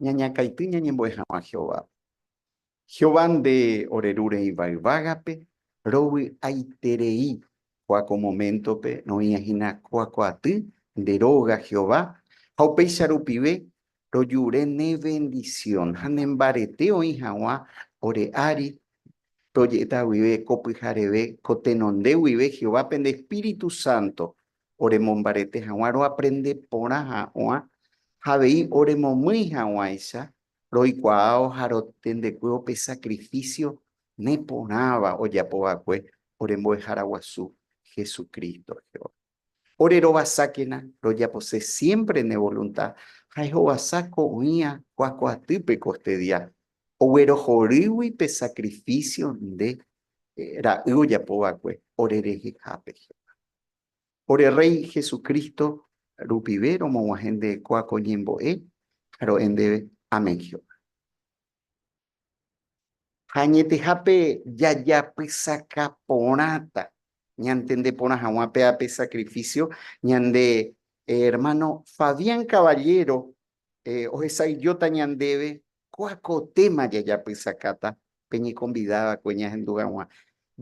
Ñañakãity ñañembo'e hag̃ua Jehovápe. Jehová nde ore Ru Rei Vai Yvágape rovy'aiterei Kóa ko moméntope roĩva hína kuakuaaty nde róga Jehová, ha upéicha rupive rojure ne vendisión ha ne mbarete oĩ hag̃ua ore ári. Roje'éta guive ko pyhareve ko tenonde guive Jehovápe nde espíritu sánto oremombarete hag̃ua roaprende porã hag̃ua ha avei oremomýi hag̃uáicha Roikuaávo ha rotendekuévo pe sakrifísio neporãva ojapo va'ekue ore Mbo'ehára Guasu Jesucristo, Jehová. Ore rovasákena rojapose siémpre ne volunta ha ehovasa ko'ỹia kuakuaatýpe ko este día, oguerohorýgui pe sakrifísio nde Ra'y ojapo va'ekue ore rehehápe, Jehová. Ore Rréi Jesucristo rupive romog̃uahẽnde'ekua ko ñembo'e, ro'e ndéve, Amén, Jehová. Ha añetehápe jajapysaka porãta ñantende porã hag̃ua péva pe sakrifísio ñande ermáno Fabián Caballero ohesaijóta ñandéve kuako téma jajapysakáta pe ñekonvida va'ekue ñahendu hag̃ua.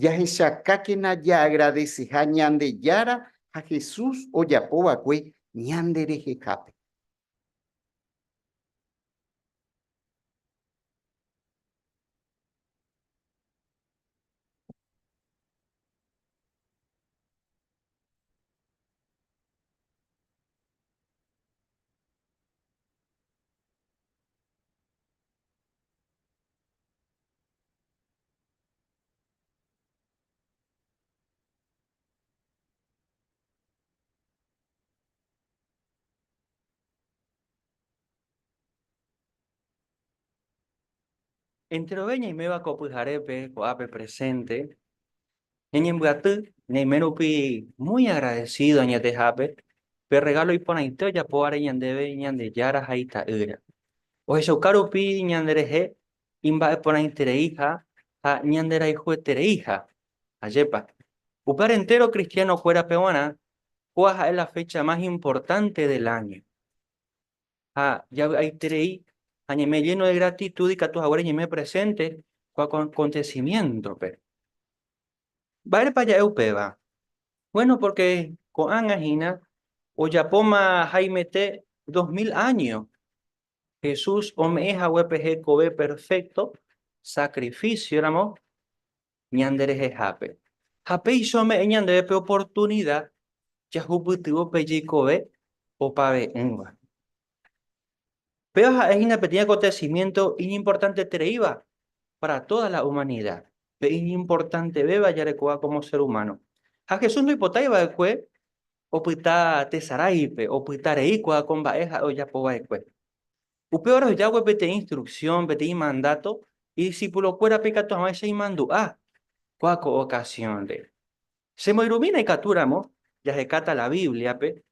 Jahechakákena jaagradeseha Ñandejára ha Jesús ojapo va'ekue ñanderehehápe. Enterove ñaiméva ko pyharépe, ko'ápe presente, Ñañembyaty ñaime rupi muy agradecido añetehápe pe regalo iporãite ojapóvare ñandéve Ñandejára ha Ita'ýra. Ohechauka rupi ñanderehe imba'eporãitereiha ha ñanderayhuetereiha. Ajépa! Upévare entéro kristianokuérape g̃uarã, kóa ha'e la fecha más importante del año. ha javy'aiterei ha ñeme lléno de gratitud ikatu haguére ñeme presénte ko akontesimiéntope. Mba'érepa ja'e upéva? Buéno, pórke ko'ág̃a hína ojapóma haimete dos mil áño Jesús ome'ẽ haguépe hekove perfékto sakrifichioramo ñanderehehápe, ha péicha ome'ẽ ñandéve pe oportunida jahupytyvõ pe jeikove opave'ỹva. Péva ha'e hína peteĩ akontesimiénto iñimportantetereíva pára tóda la umanida, pe iñimportantevéva jarekóva kómo sér umáno. Ha Jesús ndoipotái va'ekue opyta tesaráipe, opyta rei ko'áko mba'e ha'e ojapo va'ekue. Upévare ohejákue peteĩ instruksión, peteĩ mandáto idisipulokuérape ikatu hag̃uáicha imandu'a kua ko okasiónre. Che moirũmína ikatúramo jahekáta la Bíbliape,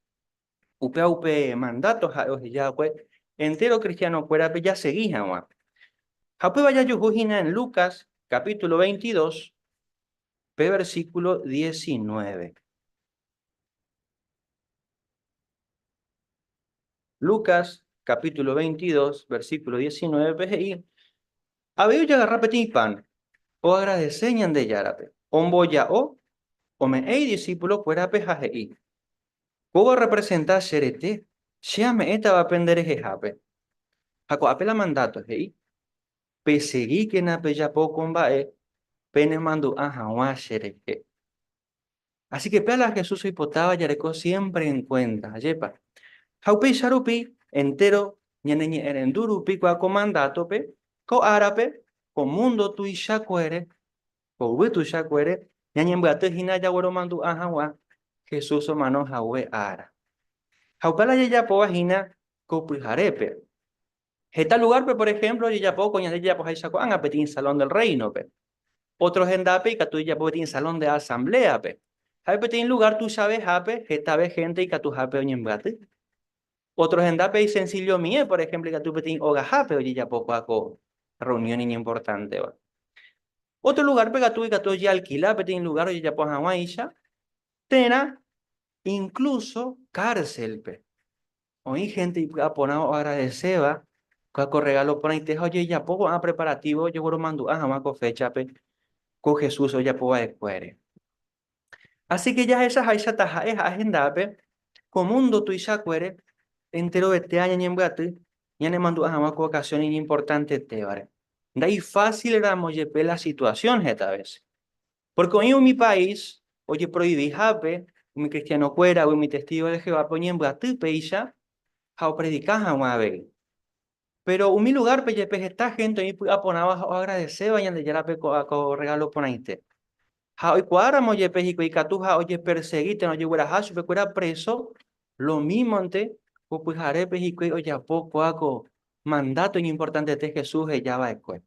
upéva upe mandáto ha'e ohejákue entéro kristianokuérape jasegi hag̃ua. Ha upéva jajuhu hína en Lucas capítulo 22, pe versículo diecinueve. Lucas capítulo 22, versículo 19 pe he'i, Avei ojagarra peteĩ pan, oagradese Ñandejárape, omboja'o, ome'ẽ idisípulo kuérape ha he'i, Kóva orrepresenta che rete, che ame'ẽtava pende rehehápe. Ha ko'ápe la mandáto he'i, Peseríkena pejapo ko mba'e penemandu'a hag̃ua cherehe. Así que pe ala Jesús oipotáva jareko siémpre en kuénta. Ajépa! Ha upéicha rupi, entéro ñaneñe'ẽrendu rupi kua ko mandátope, ko árape, ko múndo tuichakuére, ko yvy tuichakuére, ñañembyaty hína jagueromandu'a hag̃ua Jesús omano hague ára. Ha upe ala jajapóva hína ko pyharépe. Heta lugárpe, por ehémplo, ojejapo ko ñande jajapoháicha ko'ág̃a peteĩ Salón del Réinope. Ótro hendápe ikatu ojejapo peteĩ Salón de Asambléape. Ha'e peteĩ lugár tuichavehápe hetave hénte ikatuhápe oñembyaty. Ótro hendápe isensillomie, por ehémplo, ikatu peteĩ ogahápe ojejapokuaa ko rreunión iñimportanteva. Ótro lugárpe katu ikatu ojealkila peteĩ lugár ojejapo hag̃uáicha térã inkluso kárselpe. Oĩ hénte ipy'aporãva oagradeséva kua ko rregálo porãite ha ojejapo ko'ã preparatívo ojehoromandu'a hag̃ua ko féchape ko Jesús ojapo va'ekuére. Asíke jahechaháicha taha'e ha ahendápe ko múndo tuichakuére enterovetéva ñañembyaty ñanemandu'a hag̃ua ko okasión iñimportantetévare, ndaifásildamo jepe la situasión heta vése. Pórke oĩ umi país ojeproivihápe umi kristianokuéragui umi testígo de Jehovápe oñembyaty péicha ha opredika hag̃ua avei. Péro umi lugárpe jepe heta hénte oĩ py'aporãva ha oagradeséva Ñandejárape ko rregálo porãite. Ha oikuaáramo jepe hikuái ikatu ha ojepersegi térã ojegueraha chupekuéra préso, lomímonte ko pyharépe hikuái ojapo kóa ko mandáto iñimportantete Jesús heja va'ekue.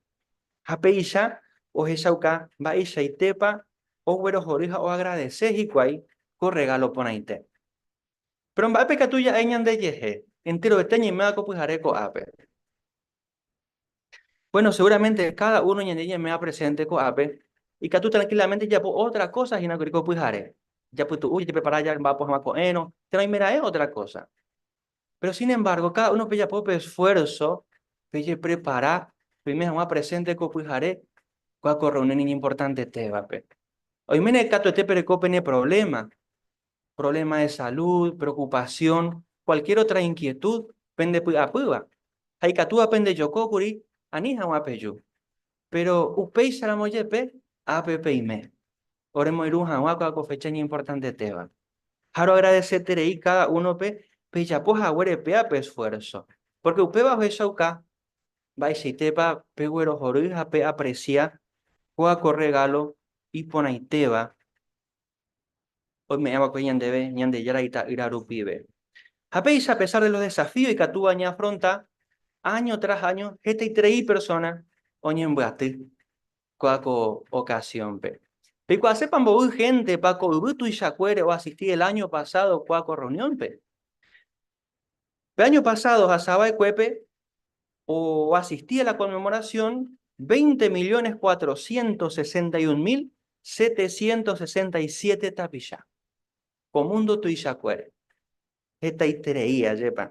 Ha péicha ohechauka mba'eichaitépa oguerohory ha oagradese hikuái ko rregálo porãite. Péro mba'épe ikatu ja'e ñandejehe enterovete ñaiméva ko pyhare ko'ápe? Buéno, seguramente káda uno ñande ñaiméva presénte ko'ápe ikatu trankilamente jajapo ótra kósa hína kuri ko pyhare, japytu'u jajeprepara jamba'apo hag̃ua ko'ẽrõ, térã oimeraẽ ótra kósa. Péro sin embárgo, káda uno pejapo pe esfuérso pejeprepara peime hag̃ua presénte ko pyhare kua ko rreunión iñimportantetévape. Oiméne katuete pereko pene provléma, provléma de salud, preokupasión, kualkiér otra inkietud pendepy'apýva, ha ikatúva pendejokókuri ani hag̃ua peju. Péro upéicharamo jepe, ápe peime oremoirũ hag̃ua ko áko fecha iñimportantetéva. Ha roagradeseterei káda únope pejapo haguére péva pe esfuérso, pórke upéva ohechauka mba'eichaitépa peguerohory ha peapresia ko áko rregálo iporãitéva oime'ẽ va'ekue ñandéve Ñandejára Ita'ýra rupive. Ha péicha, a pesar de los desafíos ikatúva ñaafronta, año tras año hetaiterei persona oñembyaty kóa ko ocasión-pe. Peikuaasépa mboy géntepa ko yvy tuichakuére oasisti el año pasado kóa ko reunión-pe? Pe año pasado ohasa va'ekuépe oasisti a la conmemoración veinte millones cuatrocientos sesenta y un mil setecientos sesenta y siete tapicha ko mundo tuichakuére. Hetaiterei ajépa.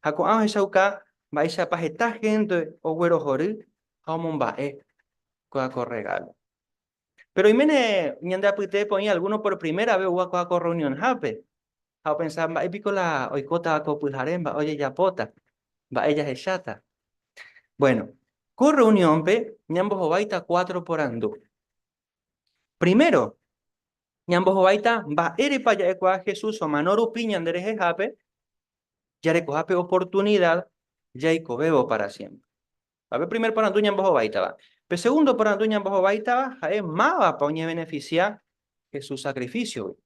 Ha ko'ã ohechauka mba'éichapa heta hénte oguerohory ha omomba'e ko regalo. Péro oiméne ñande apytépe oĩ algúno por primera ves oguakuaa ko rreunionhápe, ha opensa, Mba'e piko la oikótava ko pyhare? Mba'e ojejapóta? Mba'e jahecháta? Bvueno, ko rreuniónpe ñambohováita kuátro porandu. Primero, ñambohováita mba'érepa ja'ekuaa Jesús omano rupi ñanderehehápe jarekoha pe oportunida jaikovévo pára siémpre. Ha pe primer porandu ñambohovaitava. Pe segundo porandu ñambohovaitava ha'e mávapa oñevenefisia Jesús sakrifísiogui.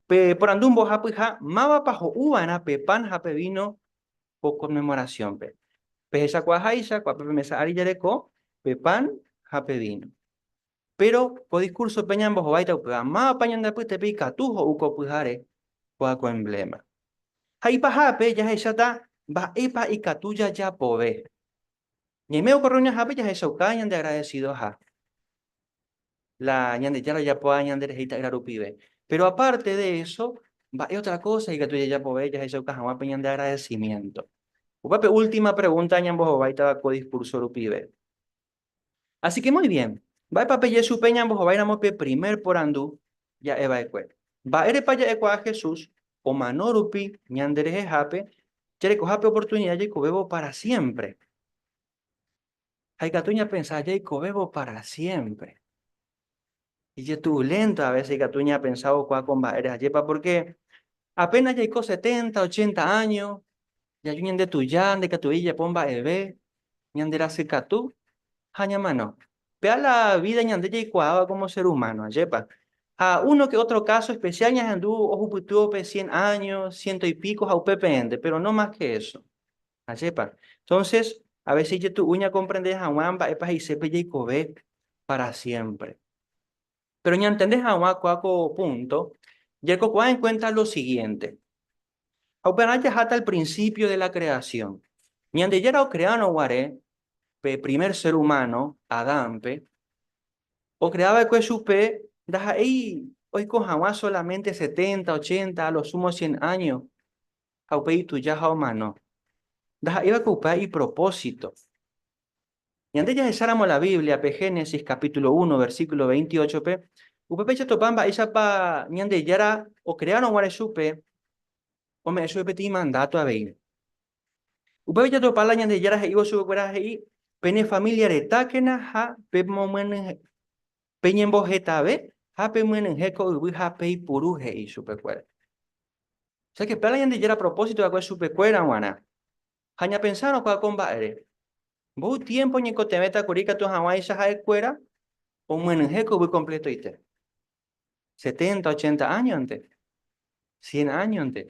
Pe porandu mbohapyha, mávapa ho'uva'erã pe pan ha pe víno ko Konmemorasiónpe. Pehechakuaaháicha, kuápe pe mesa ári jareko pe pan ha pe víno. Péro ko diskúrsope ñambohovái taupyha, mávapa ñande apytépe ikatu ho'u ko pyhare kóva ko embléma. Ha ipahápe jahecháta mba'épa ikatu jajapove. Ñaimégua ko rreunionhápe jahechauka ñandeagradesidoha la Ñandejára ojapoha ñanderehe Ita'ýra rupive. Péro apárte de eso, mba'e ótra kósa ikatu jajapove jahechauka hag̃ua pe ñandeagradesimiénto? Upépe última pregúnta ñambohováitava ko diskúrso rupive. Así que muy bien, mba'épa peje chupe ñambohováiramo pe primer porandu ja'e va'ekue? Mba'érepa ja'ekuaa Jesús omano rupi ñanderehehápe jarekoha pe oportunidad jaikovévo para siempre? Ha ikatu ñapensa jaikovévo para siempre. Ijetuvulénta a vése ikatu ñapensa vokua ko mba'ére ajépa. Pórke apéna jaiko seténta, ochénta áño, jaju ñande tuja ndaikatuvei jajapo mba'eve, ñanderasykatu ha ñamano. Péva la vída ñande jaikuaáva kómo sér umáno, ajépa. Ha úno ke ótro káso espesiál ñahendu ohupytývo pe sien áño, siénto ipíko ha upe peẽnte, péro no más ke éso. Ajépa. Entonces, a veces ijetu'u ñakomprende hag̃ua mba'épa he'ise pe jeikove para siempre. Pero ñantende hag̃ua kua ko púnto, jaikokuaa en kuénta lo siguiente, ha upearã jaháta al principio de la creación. Ñandejára okreárõ guare pe primer ser humano, Adánpe, okrea va'ekue chupe ndaha'éi oiko hag̃ua solamente setenta, ochenta, a lo sumo cien año, ha upe ituja ha omano. Ndaha'éiva ko upe ipropósito. Ñande jahecháramo la Bíbliape Génesis capítulo uno, versículo veintiochópe, upépe jatopa mba'éichapa Ñandejára okreárõ guare chupe ome'ẽ chupe peteĩ mandáto avei. Upépe jatopa la Ñandejára he'ívo chupekuéra he'i, Pene família retákena ha Peñembohetave ha pemyenyhẽ ko yvy ha peipuru, he'i chupekuéra. O sea que péva la Ñandejára propósito va'ekue chupekuéra g̃uarã. Ha ñapensárõ kuaa ko mba'ére. Mboy tiempo oñekotevẽta kuri ikatu haguãicha ha'e kuéra omyenyhẽ ko yvy completoite. Setenta, ochenta año-nte, cien año-nte.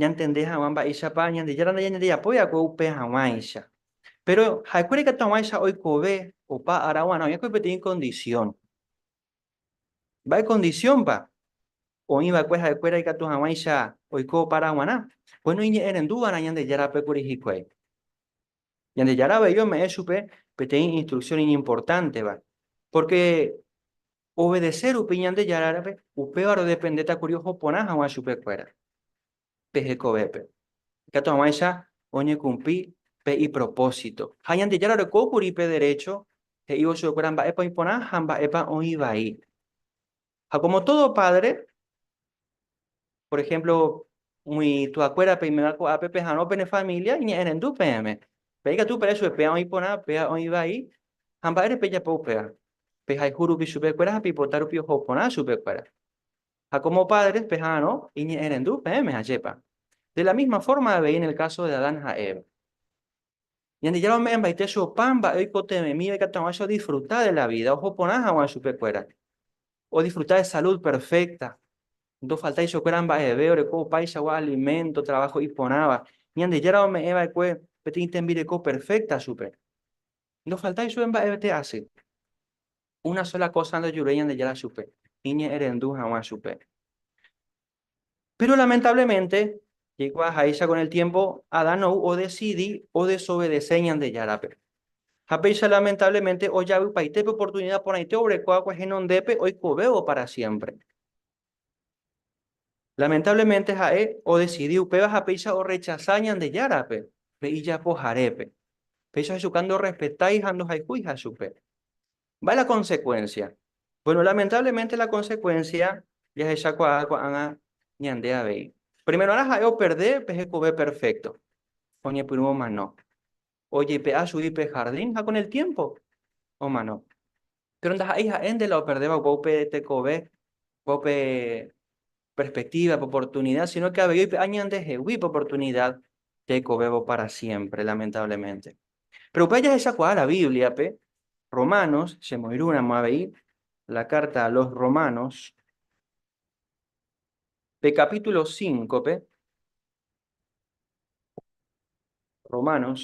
ñantende hag̃ua mba'éichapa Ñandejára nde ñandejapo va'ekue upe hag̃uáicha. Péro ha'ekuéra ikatu hag̃uáicha oikove opa ára g̃uarã oĩkuri peteĩ kondisión. Mba'e kondisiónpa? Oĩ va'ekue ha'ekuéra ikatu hag̃uáicha oiko opa ára g̃uarã. Kuéno iñe'ẽrendu va'erã Ñandejárape kuri hikuái. Ñandejára avei ome'ẽ chupe peteĩ instruksión iñimportánteva, pórke obedese rupi Ñandejárape, upéva rodependéta kuri oho porã hag̃ua chupekuéra pe hekovépe, ikatu hag̃uáicha oñekumpli pe ipropósito. Ha Ñandejára oreko kuri pe derécho he'ívo chupekuéra mba'épa oĩ porã ha mba'épa oĩ vai. Ha como todo padre, por ejemplo, umi tuakuéra peimeva ko'ápe peharõ pene familia iñe'ẽrendu peẽme. Pe ikatu pere chupe péva oĩ porã, péva oĩ vai, ha mba'ére pejapo upéva. Pehayhu rupi chupekuéra ha peipota rupi oho porã chupekuéra. Ha como padres peharõ iñe'ẽrendu peẽme, ajépa. De la misma forma avei en el caso de Adán ha Eva. Ñandejára ome'ẽmbaite che opa mba'e oikotevẽmi oikatu hag̃ua che odisfruta de la vida, oho porã hag̃ua chupekuéra, odisfruta de salud perfecta, ndofaltái chupekuéra mba'eve, oreko opaichagua alimento, trabajo iporãva. Ñandejára ome'ẽva'ekue peteĩ tembireko perfecta chupe. Ndofaltái chupe mba'evete asy. Una sola cosa ndojurúi Ñandejára chupe, iñe'ẽrendu hag̃ua chupe. Péro lamentablemente, jaikuaa háicha kon el tiémpo, Adán ou odesidi odesovede-se Ñandejárape. Ha péicha lamentablemente ojavypaite pe oportunida porãite obreko va'ekue henondépe oikovévo pára siémpre. Lamentablemente ha'e odesidi upéva ha péicha orrechasa Ñandejárape, pe ijapoharépe. Péicha hechuka ndorrespetái ha ndohayhúiha chupe. Mba'e la konsekuénsia? Bueno, lamentáblemente la konsekuénsia jahechakuaa ko'ág̃a ñande avei. Primero'arã ha'e operde pe hekove perfékto, oñepyrũ omano, ojepe'a chugui pe hardín ha kon el tiémpo omano. Péro ndaha'éi ha'e nde la operdéva opa upe tekove, opa upe perspektíva, upe oportunida, síno ke avei oipe'a ñandehegui upe oportunida tekovévo pára siémpre, lamentáblemente. Péro upéva jahechakuaa la Bíbliape, Romanos, chemoirũramo avei la Carta a los Romanos, pe kapítulo cíncope, Romanos,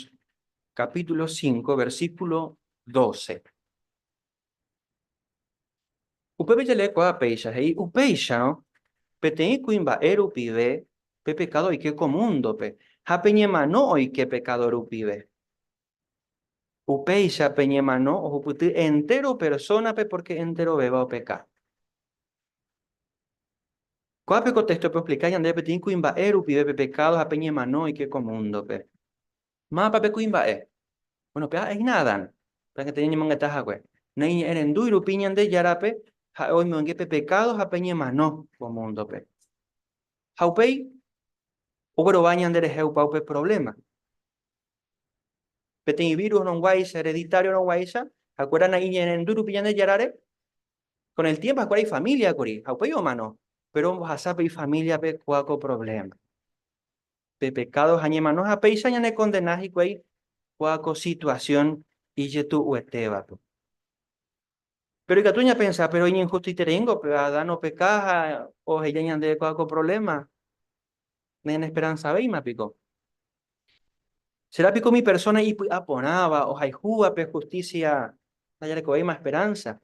kapítulo cínco, versíkulo doce. Upépe jalekuaa péicha he'i upéicharõ peteĩ kuimba'e rupive pe pekádo oike ko múndope ha pe ñemano oike pekádo rupive. Upéicha pe ñemano ohupyty entéro persónape pórke enterovéva opeka. Kuápe ko téxtope oexplika ñandéve peteĩ kuimba'e rupive pe pekádo ha pe ñemano oike ko múndope. Mávapa pe kuimba'e? Bueno, pe ha'e hína Adán, pe añete ñañemongeta hague. Naiñe'ẽrendúi rupi Ñandejárape ha'e oimonge pe pekádo ha pe ñemano ko múndope. Ha upéi oguerova ñanderehe opa upe provléma. Peteĩ vírus oronguáicha, hereditario oronguáicha, ha'ekuéra naiñe'ẽrendu rupi Ñandejárare, kon el tiémpo ha'ekuéra ifamília kuri ha upéi omano. Péro ombohasa pe ifamíliape kua ko provléma. pe pekádo ha ñemano ha péicha ñanekondena hikuái kóa ko situasión ijetu'uetévape. Péro ikatu ñapensa, péro iñinhustitereíngo pe Adán opeka ha oheja ñandéve kóa ko provléma, nañanesperansavéima piko? Cherá piko umi persóna ipy'a porãva ohayhúva pe hustísia ndajarekovéima esperánsa?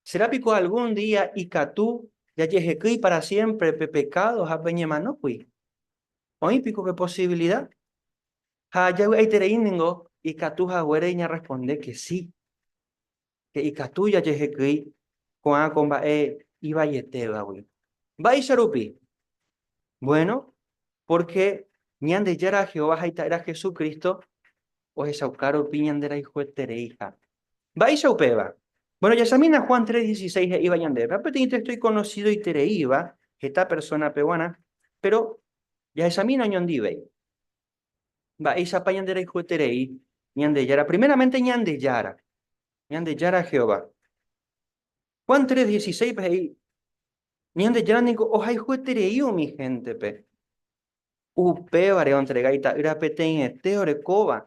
Sérã piko algún día ikatu jajehekýi pára siémpre pe pekádo ha pe ñemanókuri? Oĩ piko pe posivilida? Ha javy'aiterei ningo ikatu haguére ñarresponde ke si, ke ikatu jajehekýi ko'ã ko mba'e ivaietévagui. Mba'éicha rupi? Buéno, pórke Ñandejára Jehová ha Ita'ýra Jesucristo ohechauka rupi ñanderayhuetereiha. Mba'éicha upéva? Bueno, jahechamína Juan 3:16 he'íva ñandéve, ha peteĩ téxto ikonosídoitereíva heta persónape g̃uarã, péro jahechamína oñondivéi. Mba'éichapa ñanderayhueterei Ñandejára? Primeramente Ñandejára, Ñandejára Jehová. Juan 3:16-pe he'i, Ñandejára ningo ohayhueterei umi héntepe. Upévare ontrega ita'ýra peteĩete orekóva.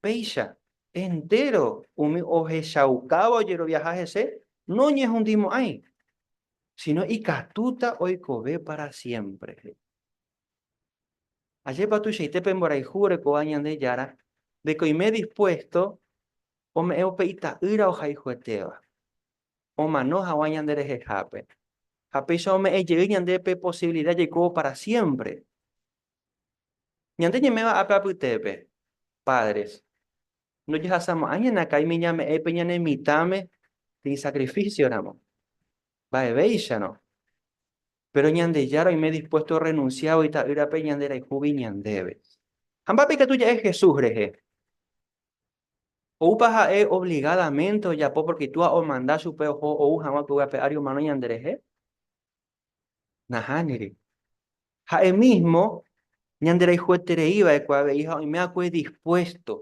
Péicha, entéro umi ohechaukáva ojeroviaha hese noñehundimo'ãi, síno ikatúta oikove pára siémpre, he'i. Ajépa tuichaite pe mborayhu orekóva Ñandejára de ko oime dispuésto ome'ẽ upe ita'ýra ohayhuetéva! omano hag̃ua ñanderehehápe, ha péicha ome'ẽ jey ñandéve posibilida jaikóvo pára siémpre. Ñande ñeme'ẽva ápe apytépe, pádres, ndojahasamo'ãi ñanakaimi ñame'ẽ pe ñane mitãme de isakrifísioramo. Mba'evéicharõ. Péro Ñandejára oime dispuésto orrenunsiávo Ita'ýrape ñanderayhúgui ñandéve. Ha mba'épa ikatu ja'e Jesús rehe? Oúpa ha'e obligadamente ojapo pórke itúa omanda chupe oho ou hag̃ua upégui ape ári omano ñanderehe? Nahániri. Ha'e mísmo ñanderayhueterei va'ekue avei ha oimeva'ekue dispuésto.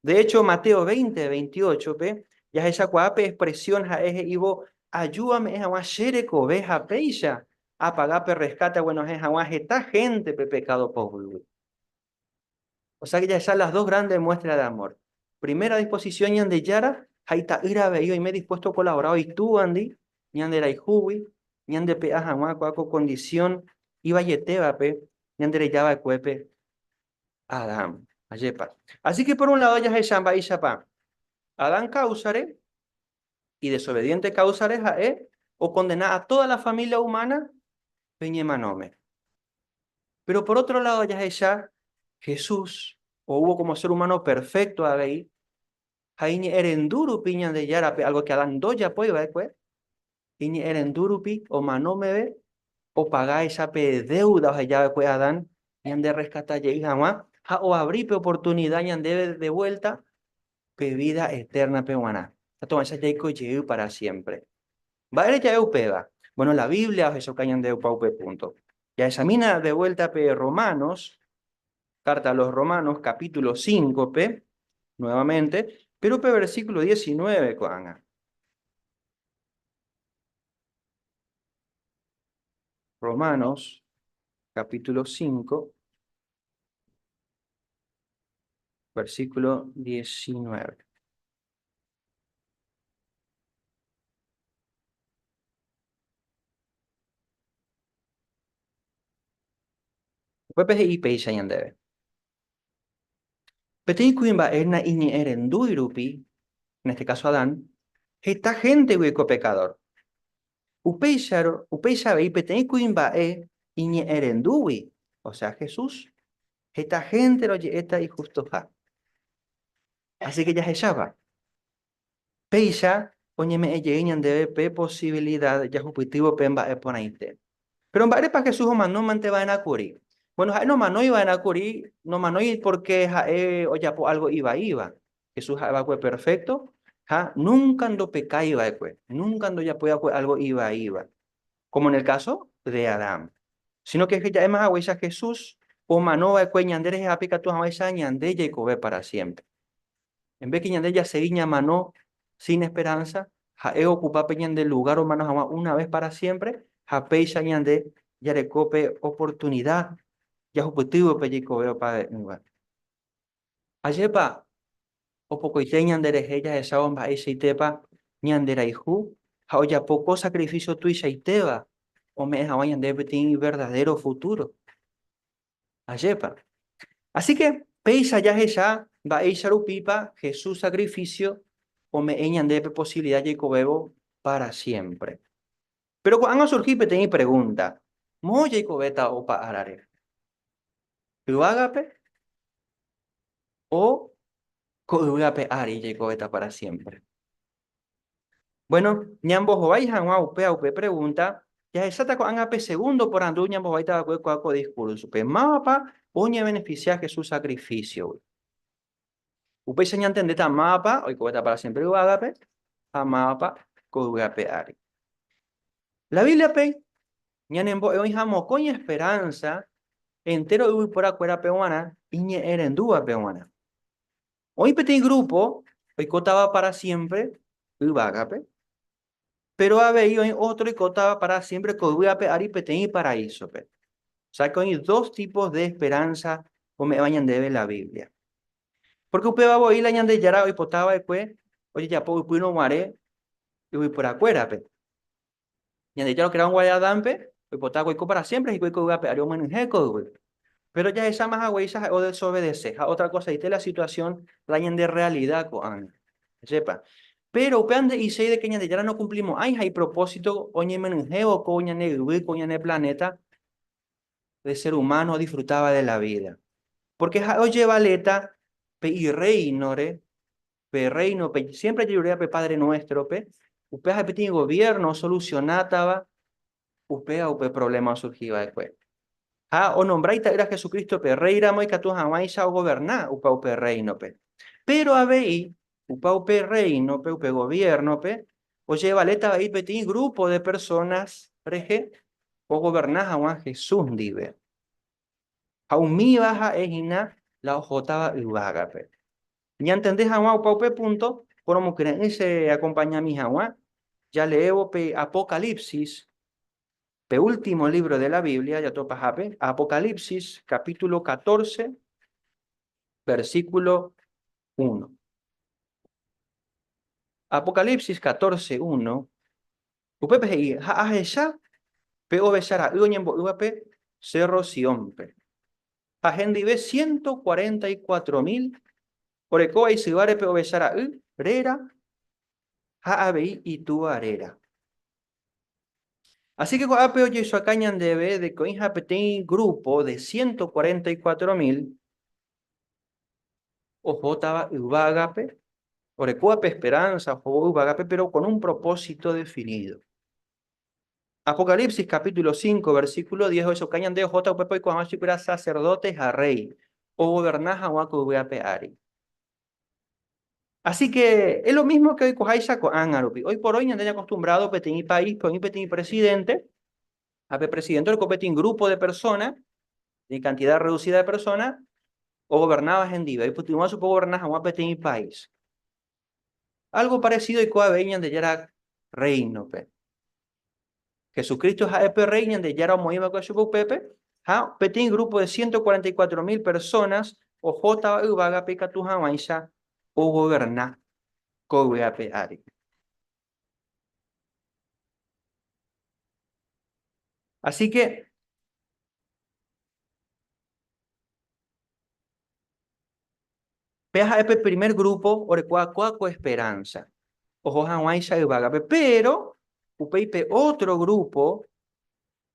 De hécho, Mateo veinte veintiochópe jahechakuaa pe expresión ha'e he'ívo, Aju ame'ẽ hag̃ua che rekove ha péicha apaga pe rreskáte aguenohẽ hag̃ua heta hénte pe pekádo poguýgui. Osẽ jahecha las dos grandes muestras de amor. Primera disposición Ñandejára ha ita'ýra avei oime dispuesto okolabora oitúvandi ñanderayhúgui ñandepe'a hag̃ua ko'ã ko condición ivaietévape ñandereja va'ekuépe Adán. Ajépa! Así que por un lado jahecha mba'éichapa Adán káusare Idesobediente káusare ha'e okondena a tóda la família umána pe ñemanóme. Péro por ótro ládo jahecha Jesús oúvo kómo sér umáno perfékto avei, ha iñe'ẽrendu rupi Ñandejárape, álgo ke Adán ndojapói va'ekue, iñe'ẽrendu rupi omano meve opagáicha pe déuda oheja va'ekue Adán ñanderreskata jey hag̃ua ha oavri pe oportunida ñandéve devuélta pe vída etérnape g̃uarã, tátovaicha jaiko jey pára siémpre. Mba'ére ja'e upéva? Bóno, la Biblia ohechauka ñandépa upe púnto. Jahechamína devuélta pe Romanos, kárta a los Romanos, kapítulo sínkove, nuevamente, péro pe versíkulo diesinove ko'ág̃a. Romanos, kapítulo sínko, Versículo 19. Upépe he'i péicha ñandéve, Peteĩ kuimba'e naiñe'ẽrendúi rupi, en este caso Adán, heta héntegui oiko pekadór. Upéicharõ, upéicha avei peteĩ kuimba'e iñe'ẽrendúgui, osea Jesús, heta hénte roje'éta ijustoha. Así ke jahecháva? Péicha oñeme'ẽ jey ñandéve pe posivilida jahupytývo pe mba'e porãite. Péro mba'érepa Jesús omanómante va'erã kuri? Bueno, ha'e nomanói va'erã kuri, nomanói pórke ha'e ojapo álgo ivaíva, Jesús ha'e va'ekue perfékto ha núnka ndopekái va'ekue, núnka ndojapói va'ekue álgo ivaíva, kómo en el káso de Adán. Síno ke ja'éma haguéicha Jesús omano va'ekue ñande rehehápe ikatu hag̃uáicha ñande jaikove pára siémpre. Embéke ñande jasegi ñamano sín esperánsa, ha'e ookupa pe ñande lugár omano hag̃ua una ves pára siémpre, ha péicha ñande jareko pe oportunida jahupytývo pe jaikovéva opavave'ỹva. Ajépa opokoite ñanderehe jahechávo mba'eichaitépa ñanderayhu ha ojapo ko sakrifísio tuichaitéva ome'ẽ hag̃ua ñandéve peteĩ verdadéro futúro! Ajépa! Asíke péicha jahecha mba'éicha rupípa Jesús sakrifísio ome'ẽ ñandéve posivilida jaikovévo pára siémpre. Péro ko'ág̃a osurhi peteĩ pregúnta, Moõ jaikovéta opa ára rehe? Yvágape? O ko yvy ape ári jaikovéta pára siémpre? Buéno, ñambohovái hag̃ua upe ha upe pregúnta, jahecháta ko'ág̃a pe segúndo porandu ñambohováita va'ekue ko diskúrsope, Mávapa oñevenefisia Jesús sakrifísiogui? Upéicha ñantendéta mávapa oikoveta pára siémpre yvágape ha mávapa ko yvy ape ári. La Bíbliape ñanembo'e oĩha mokõi esperánsa entéro yvyporakuérape g̃uarã iñe'ẽrendúvape g̃uarã. Oĩ peteĩ grúpo oikótava pára siémpre yvágape Péro avei oĩ ótro oikótava para siémpre ko yvy ape ári peteĩ paraísope. Osẽke oĩ dos típos de esperánsa ome'ẽva ñandéve la Biblia. Pórke upéva voi la Ñandejára oipota va'ekue ojejapo ypýrõ guare yvyporakuérape. Ñandejára okera'ỹ guare Adánpe, oipotákuri oiko para siémpre hikuái ko yvy ape ári omyenyhẽ ko yvy. Péro jahecháma haguéicha ha'e odesovede-se ha otrakosaite la situasión la ñande rrealida ko'ág̃a. Ajépa. Péro upéva nde'iséi de ke Ñandejára nokumplimo'ãi ha ipropósito oñemyrỹhévo ko ñane yvy, ko ñane planéta de sér umáno odisfrutáva de la vída. Pórke ha'e ojevaleta pe Irréinore pe Rréinope, siémpre jajeruréva pe Padre Nuéstrope, upéva ha'e peteĩ goviérno osolusionátava upéva upe provléma osurhi va'ekue. Ha onombra Ita'ýra Jesucristo pe Rréiramo ikatu hag̃uáicha ogoverna opa upe Rréinope. Péro avei, opa upe Rréinope, upe goviérnope, ojevaléta avei peteĩ grúpo de persónas rehe ogoverna hag̃ua Jesús ndive. Ha umíva ha'e hína la ohótava yvágape. Ñantende hag̃ua opa upe púnto, poromokyre'ỹ cheakompañami hag̃ua jaleévo pe Apocalipsis, pe último lívro de la Biblia jato pahápe, Apocalipsis capítulo catorce, versículo uno. Apocalipsis catorce, uno, upépe he'i, Ha ahecha pe ovecha ra'y oñembo'ývape Cerro Siónpe. ha hendive ciento cuarenta y cuatro mil orekóva isyváre pe ovecha ra'y réra ha avei itúa réra. Así que ko'ápe ojeisuaka ñandéve de que oĩha peteĩ grupo de ciento cuarenta y cuatro mil ohótava yvágape, orekóva pe esperanza ohóvo yvágape, pero con un propósito definido. Apocalipsis capítulo 5, versículo 10 ohechakuaa ñande ohóta upépe oiko hag̃ua chupyrã sacerdote ha rey, ogoverna hag̃ua ko yvy ape ári. Así que es lo mismo que oikoháicha ko'ág̃a rupi. Hoy por hoy ñande ñacostumbrado peteĩ paíspe oĩ peteĩ presidente, ha pe presidente oreko peteĩ grupo de persona, peteĩ cantidad reducida de persona ogovernáva hendive, oipytyvõ chupe ogoverna hag̃ua peteĩ país. Álgo paresido oiko avei Ñandejára Rréinope. Jesucristo ha'e pe Rréi Ñandejára omoĩ va'ekue chupe upépe, ha peteĩ grúpo de ciento cuarenta y cuatro mil persónas ohótava yvágape ikatu hag̃uáicha ogoverna ko yvy ape ári. Asíke péa ha'e pe primer grúpo orekuaakua ko esperánsa oho hag̃uáicha yvágape. Péro upéi pe ótro grúpo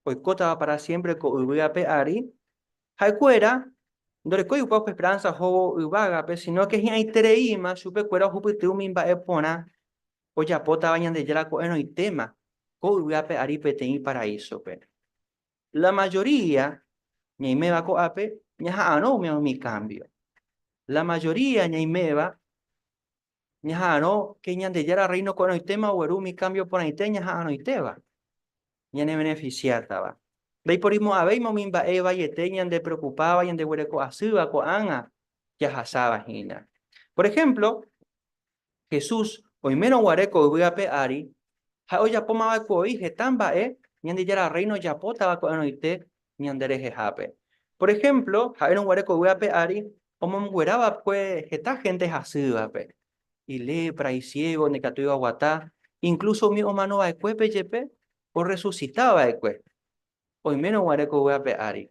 oikótava pára siémpre ko yvy ape ári, ha'ekuéra ndorekói upéva upe esperánsa ohóvo yvágape, sinóke hi'ãitereíma chupekuéra ohupyty umi mba'e porã ojapótava Ñandejára ko'ẽrõitéma ko yvy ape ári peteĩ paraísope. La majoría ñaiméva ko'ápe ñaha'arõ umi kambio. La majoría ñaiméva ñaha'arõ ke Ñandejára Rréino ko'ẽrõitéma ogueru umi kámbio porãite ñaha'arõitéva ñanevenefisiátava. Ndaiporimo'ãvéima umi mba'e vaiete ñandepreokupáva ñandeguereko asýva ko'ág̃a jahasáva hína. Por ehémplo, Jesús oimérõ guare ko yvy ape ári, ha'e ojapómava'ekuevoi heta mba'e Ñandejára Rréino ojapótava ko'ẽrõite ñanderehehápe. Por ehémplo, ha'érõ guare ko yvy ape ári omomguera va'ekue heta hénte hasývape, ilepra, isiégo, ndikatúi oaguata, inklúso umi omano va'ekuépe jepe orresusita va'ekue oimérõ guare ko yvy ape ári.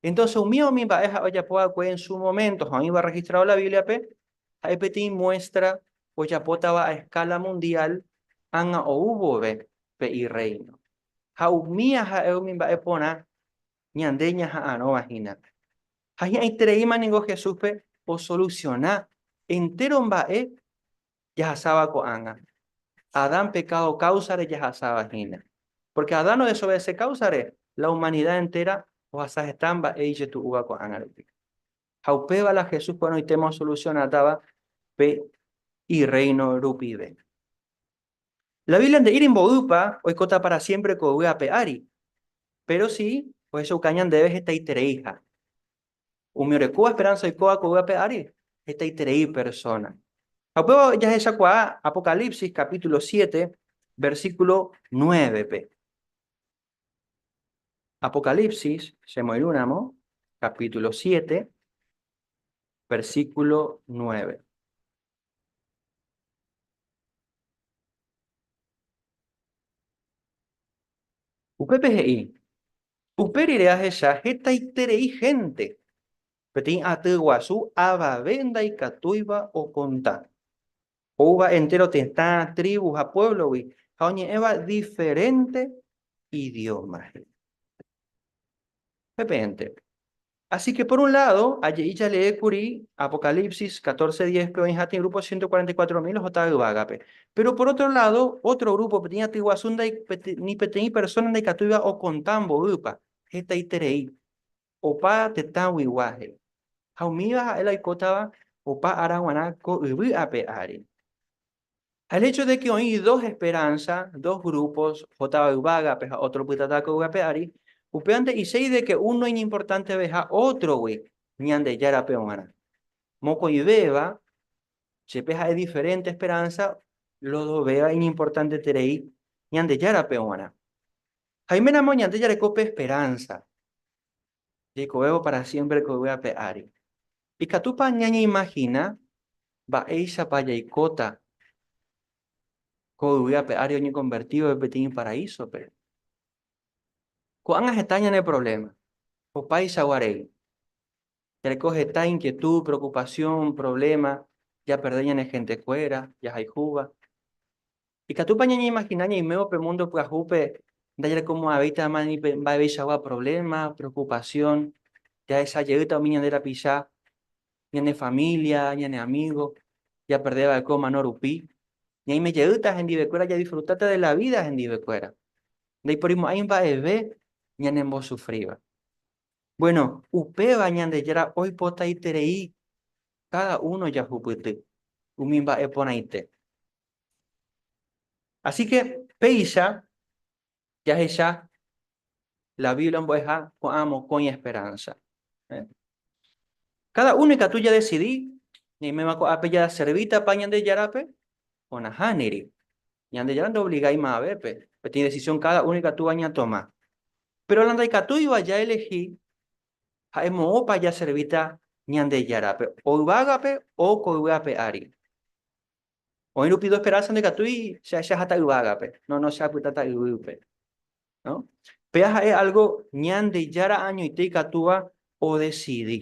Entónse umíva umi mba'e ha'e ojapo va'ekue en su moménto ha oĩva orrehistrado la Bíbliape ha'e peteĩ muéstra ojapótava a eskála mundiál ág̃a ou vove pe Irréino. ha umi aha'e umi mba'e porã ñande ñaha'arõva hínape. Ha hi'ãitereíma ningo Jesúspe osolusiona entéro mba'e jahasáva ko'ág̃a. Adán pekádo káusare jahasáva hína. Pórke Adán odesovese káusare, la umanida entéra ohasa heta mba'e ijetu'úva ko'ág̃a rupi. Ha upéva la Jesús porãitéma osolusionatáva pe Irréino rupive. La Biblia nde'íri mboýpa oikóta pára siémpre ko yvy ape ári, péro si ohechauka ñandéve hetaitereiha. Umi orekóva esperánsa oikóva ko yvy ape ári hetaiterei persóna. Ha upéva jahechakuaa Apocalipsis capítulo siete, versículo nuévepe. Apocalipsis, chemoirũramo, capítulo siete, versículo nueve. Upépe he'i, Upe rire ahecha hetaiterei hénte, peteĩ aty guasu avave ndaikatúiva okonta. Oúva entéro tetã, trívu ha puévlogui ha oñe'ẽva diferénte idióma. He'i. Upépe hénte, Así que, por un lado, aje'i jalee kuri Apocalipsis 14, 10 pe oĩha tĩ grupo ciento cuarenta y cuatro mil ohota yvágape. Pero, por otro lado, otro grupo peteĩ aty guasu ndai, ni peteĩ persona ndaikatúiva okonta mboýpa, hetaiterei, opa tetãguigua, he'i. Ha umíva ha'e la oikótava opa ára guarã ko yvy ape ári. El hecho de que oĩ dos esperanza, dos grupos, oho táva yvágape ha otro opytata ko yvápe ári, upéva nde'iséi de que uno iñimportanteveha ótrogui Ñandejárape g̃uarã. Mokõivéva, chepe ha'e diferente esperanza, los dovéva iñimportanteterei Ñandejárape g̃uarã. Jaiméramo ñande jareko pe esperanza. jeikovévo pára siémpre ko yvy ape ári. Ikatúpa ñañeimagina mba'éichapa jaikóta ko yvy ape ári oñekonvertívape peteĩ iparaísope? Ko'ág̃a heta ñane provléma. Opaichagua rei, jareko heta inkietúd, preokupasión, provléma, japerde ñane hentekuéra jahayhúva. Ikatúpa ñañeimagina ñaimévo pe múndo pyahúpe ndajarekomo'ãvéitama ni pe mba'eveichagua provléma, preokupasión? Jahecha jeýta umi ñande rapicha, ñane família, ñane amígo japerde va'ekue omano rupi? Ñaime jeýta hendivekuéra jadisfrutáta de la vída hendivekuéra. Ndaiporimo'ãi mba'eve ñanembosufríva. Buéno, upéva Ñandejára oipotaiterei káda uno jahupyty umi mba'e porãite. Asíke péicha jahecha la Biblia mbo'eha ko'ã mokõi esperánsa. Káda uno ikatu jadesidi ñaiméva ko'ápe jaservítapa Ñandejárape o nahániri. Ñandejára ndoovliga yma'ẽvépe, peteĩ desisión káda uno ikatúva ñatoma. Péro la ndaikatúiva jaelehi ha'e moõpa jaservíta Ñandejárape, o yvágape o ko yvy ape ári. Oĩ rupi ndoesperánsa ndikatúi che ahechaha ta yvágape, no, no, che apytáta yvýpe. No? Péa ha'e algo Ñandejára añoite ikatúva odesidi.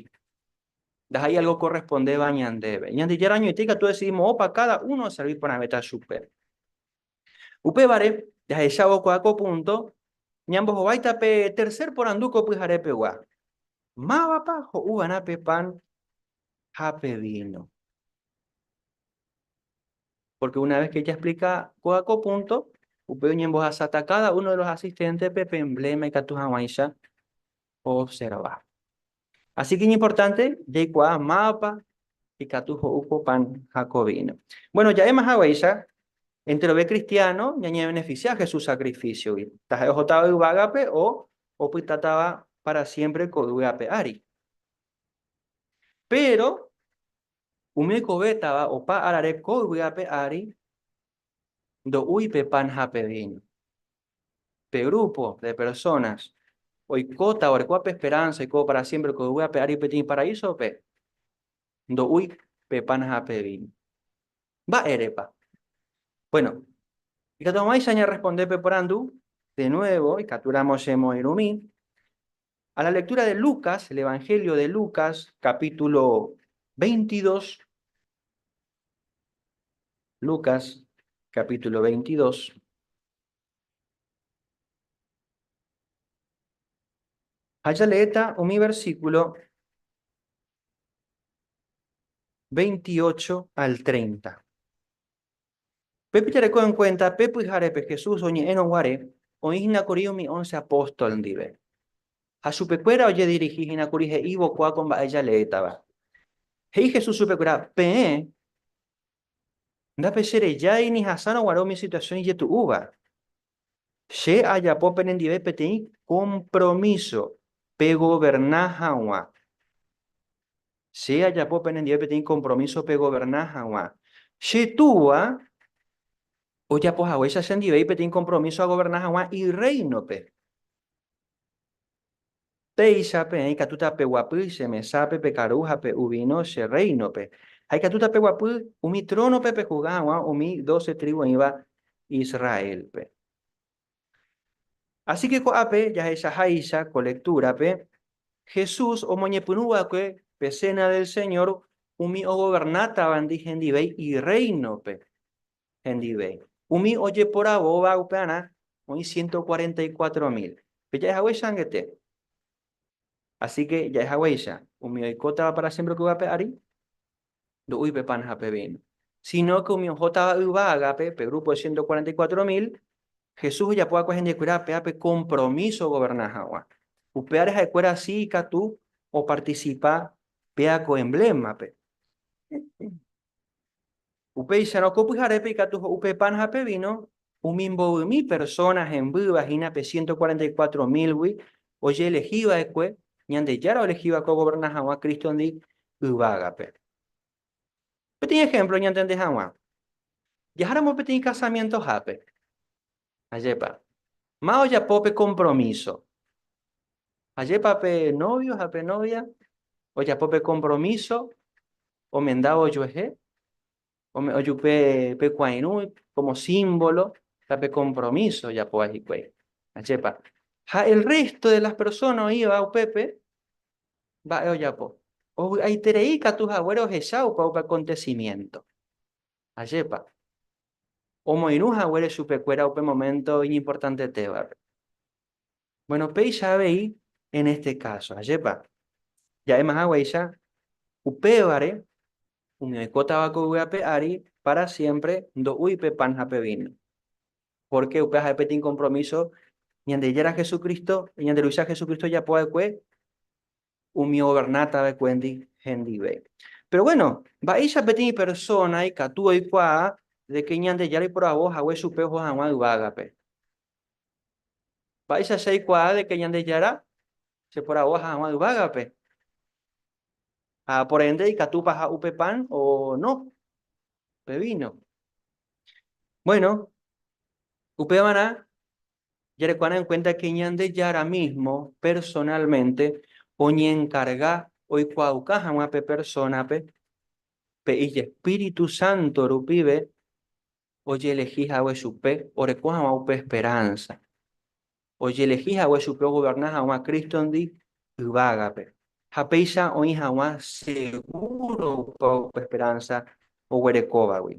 Ndaha'éi algo okorrespondéva ñandéve. Ñandejára añoite ikatu odesidi moõpa káda uno oservi porãvéta chupe. Upévare, jahechávo kua ko púnto, ñambohováita pe tercer porandu ko pyhare pegua, Mávapa ho'u va'erã pe pan ha pe víno? Pórke una ves ke jasplika kóga ko púnto, upéi oñembohasáta káda uno de los asisténtepe pe embléma ikatu hag̃uáicha oobserva. Asíke iñimportánte jaikuaa mávapa ikatu ho'u ko pan ha ko víno. Bvueno, ja'éma haguéicha, enterove kristiáno ñañevenefisia Jesús sakrifísiogui, taha'e ohótava yvágape o opytátava pára siémpre ko yvy ape ári. Péro umi oikovétava opa árare ko yvy ape ári ndo'úi pe pan ha pe víno. pe grúpo de persónas oikóta oreko pe esperánsa oiko pára siémpre ko yvy ape ári peteĩ paraísope, ndo'úi pe pan ha pe víno. Mba'érepa? Buéno, ikatu hag̃uáicha añarresponde pe porandu, de nuévo ikatúramo che moĩrũmi a la lektúra de Lucas, el Evangelio de Lucas, kapítulo veintidós, Lucas kapítulo veintidós, Ha jaleéta umi versíkulo 28 al 30. Pépe jareko enkuénta pe pyharépe Jesús oñe'ẽrõ guare oĩ hína kuri umi ónce apóstol ndive. Ha chupekuéra ojedirihi hína kuri he'ívo kua ko mba'e jaleétava. He'i Jesús chupekuéra, Peẽ Ndapecherejái ni hasárõ guare umi situasión ijetu'úva. Che ajapo penendive peteĩ kompromíso pegoverna hag̃ua. Che ajapo penendive peteĩ kompromíso pegoverna hag̃ua. Che Túva ojapo haguéicha chendive peteĩ kompromíso agoverna hag̃ua Irréinope. Péicha peẽ ikatúta peguapy che mesápe pe karu ha pe uvíno che rréinope, ha ikatúta peguapy umi trónope pejuzga hag̃ua umi doce trívu oĩva Israélpe. Asíke ko'ápe jahechaháicha ko lektúrape, Jesús omoñepyrũ va'ekue pe Séna del Señór umi ogovernátavandi hendive Irréinope, hendive. Umi ojeporavóva upearã oĩ ciento cuarenta y cuatro mil. Peja'e hague changete. Asíke ja'e haguéicha, umi oikótava pára siémpre upéva pe ári, ndo'úi pe pan ha pe víno. Sinóke umi ohótava yva ágape, pe grúpo de ciento cuarenta y cuatro mil, Jesús ojapo va'ekue hendivekuéra apéape kompromíso ogoverna hag̃ua. Upévare ha'ekuéra si ikatu opartisipa péa ko emblémape. Upéicharõ ko pyharépe ikatu ho'u pe pan ha pe víno umi mbovymi persóna hembýva hína pe ciento cuarenta y cuatro mílgui ojeelehi va'ekue Ñandejára oelehi va'ekue ogoverna hag̃ua Crístondi yvágape. Peteĩ ehémplo ñantende hag̃ua, jaháramo peteĩ kasamientohápe, Ajépa. Ma ojapo pe kompromíso. Ajépa pe novio ha pe novia ojapo pe kompromíso omendávo ojuehe, ome'õ jupe pe kuãirũ kómo símbolo ta pe kompromíso ojapóva hikuái. Ajépa. Ha el résto de las persona oĩva upépe mba'e ojapo. Ovy'aiterei katu haguére ohecha opa upe akontesimiénto. Ajépa! Omoirũ haguére chupekuéra upe momento iñimportantetévape. Bueno, péicha avei en este caso. Ajépa! Ja'éma haguéicha, upévare umi oikótava ko yvy ape ári para siempre ndo'úi pe pan ha pe víno. Pórke upéva ha'e peteĩ kompromíso Ñandejára Jesucristo, ñande Ruvicha Jesucristo ojapova'ekue umi governatavekuéndi hendive. Péro guéno, mba'éicha peteĩ persóna ikatu oikuaa de ke Ñandejára iporavo hague chupe oho hag̃ua yvágape? Mba'éicha che aikuaa de ke Ñandejára cheporavoha hag̃ua yvágape? Ha por ende, ikatúpa aha'u pe pan o no pe víno? Guéno, upévarã Jarekuaána en kuénta ke Ñandejára mísmo personalmente oñenkarga oikuaauka hag̃ua pe persónape pe ijespíritu sánto rupive ojelehi hague chupe oreko hag̃ua upe esperánsa, ojelehi hague chupe ogoverna hag̃ua Crístondi yvágape. Ha péicha oĩ hag̃ua segúropa upe esperánsa oguerekóvagui.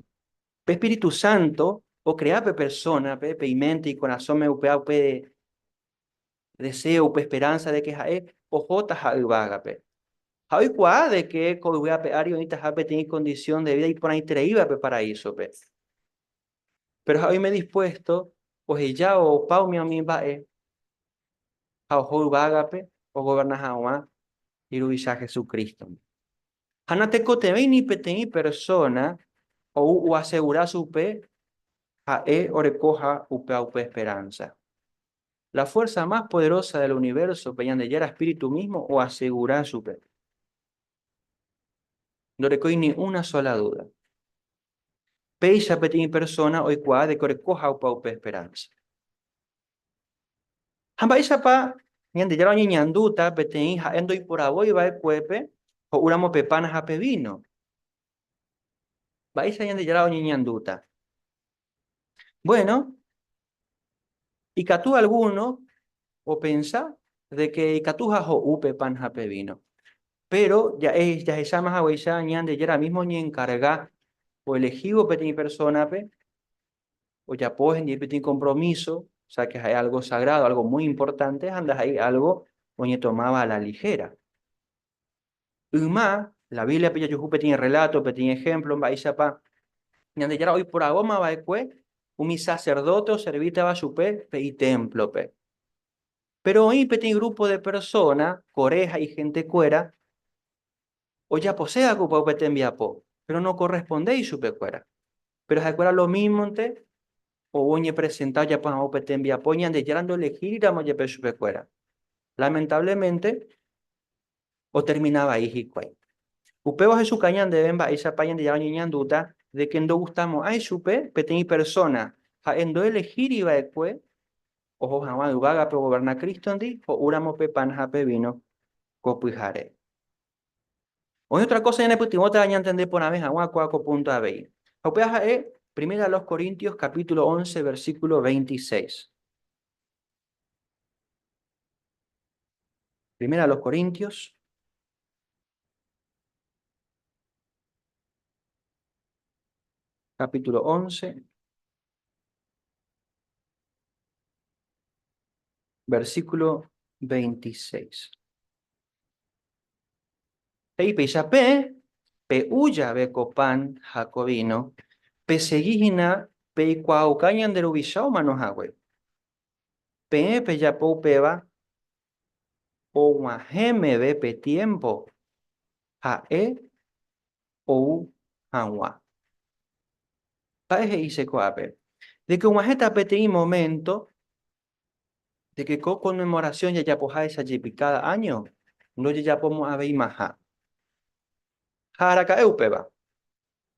Pe espíritu sánto okrea pe persónape, pe iménte, ikorasõme upéva upe deséo, upe esperánsa de ke ha'e ohótaha yvágape. Ha oikuaa de ke ko yvy ape ári oĩtaha peteĩ kondisión de vída iporãitereíva pe paraísope. Péro ha'e oime dispuésto oheja opa umi umi mba'e ha oho yvágape ogoverna hag̃ua Iruvicha Jesucrístogui. Ha natekotevẽi ni peteĩ persóna ou oasegura chupe ha'e orekóha upéva upe esperánsa. La fuérsa más poderósa del univérsope, Ñandejára espíritu mísmo, oasegura chupe. Ndorekói ni una sóla dúda. Péicha peteĩ persóna oikuaa de ke orekóha upéva upe esperánsa. Ha mba'éichapa Ñandejára oñeñandúta peteĩ ha'e ndoiporavói va'ekuépe ho'úramo pe pan ha pe víno? Mba'éicha Ñandejára oñeñandúta? Bueno, ikatu algúno opensa de ke ikatuha ho'u pe pan ha pe víno. Péro jahecháma haguéicha Ñandejára mísmo oñenkarga oelehívo peteĩ persónape ojapo hende peteĩ kompromíso, ósea ke ha'e álgo sagrádo, álgo muy importante ha ndaha'éi álgo oñetomáva a la ligéra. Yma la Bíbliape jajuhu peteĩ rreláto, peteĩ ehémplo mba'éichapa Ñandejára oiporavóma va'ekue umi saserdóte oservítava chupe pe itémplope. Péro oĩ peteĩ grúpo de persóna, Coré ha ihentekuéra, ojaposéva'ekue opa upe tembiapo, péro nokorrespondéi chupekuéra. Péro ha'ekuéra lomímonte ou oñepresenta ojapo hag̃ua upe tembiapo Ñandejára ndoelehíriramo jepe chupekuéra. Lamentavlemente, otermina vai hikuái. Upéva ohechuka ñandéve mba'éichapa Ñandejára oñeñandúta de ke ndogustamo'ãi chupe peteĩ persóna, ha'e ndoelehíriva'ekue oho hag̃ua yvágape ogoverna Crístondi ho'úramo pe pan ha pe víno ko pyhare. Oĩ otra kósa ñanepytyvõta ñantende porãve hag̃ua kóa ko púnto avei. Ha upéva ha'e Primera a los Corintios capítulo once, versículo veintiséis. Primera a los Corintios capítulo 11, versículo 26. Peipecha pe, pe uya ve copan jacovino, pe segui hina pe icuauca ñande ruvicha omano hague. Pe, pe yapo upeva, og̃uahẽ meve pe tiémpo ha'e ou hag̃ua. Ha'e he'ise ko'ápe de ke og̃uahẽta peteĩ moménto de ke ko konmemorasión jajapoháicha jepi káda áño ndojejapomo'ãveimaha. Ha araka'e upéva,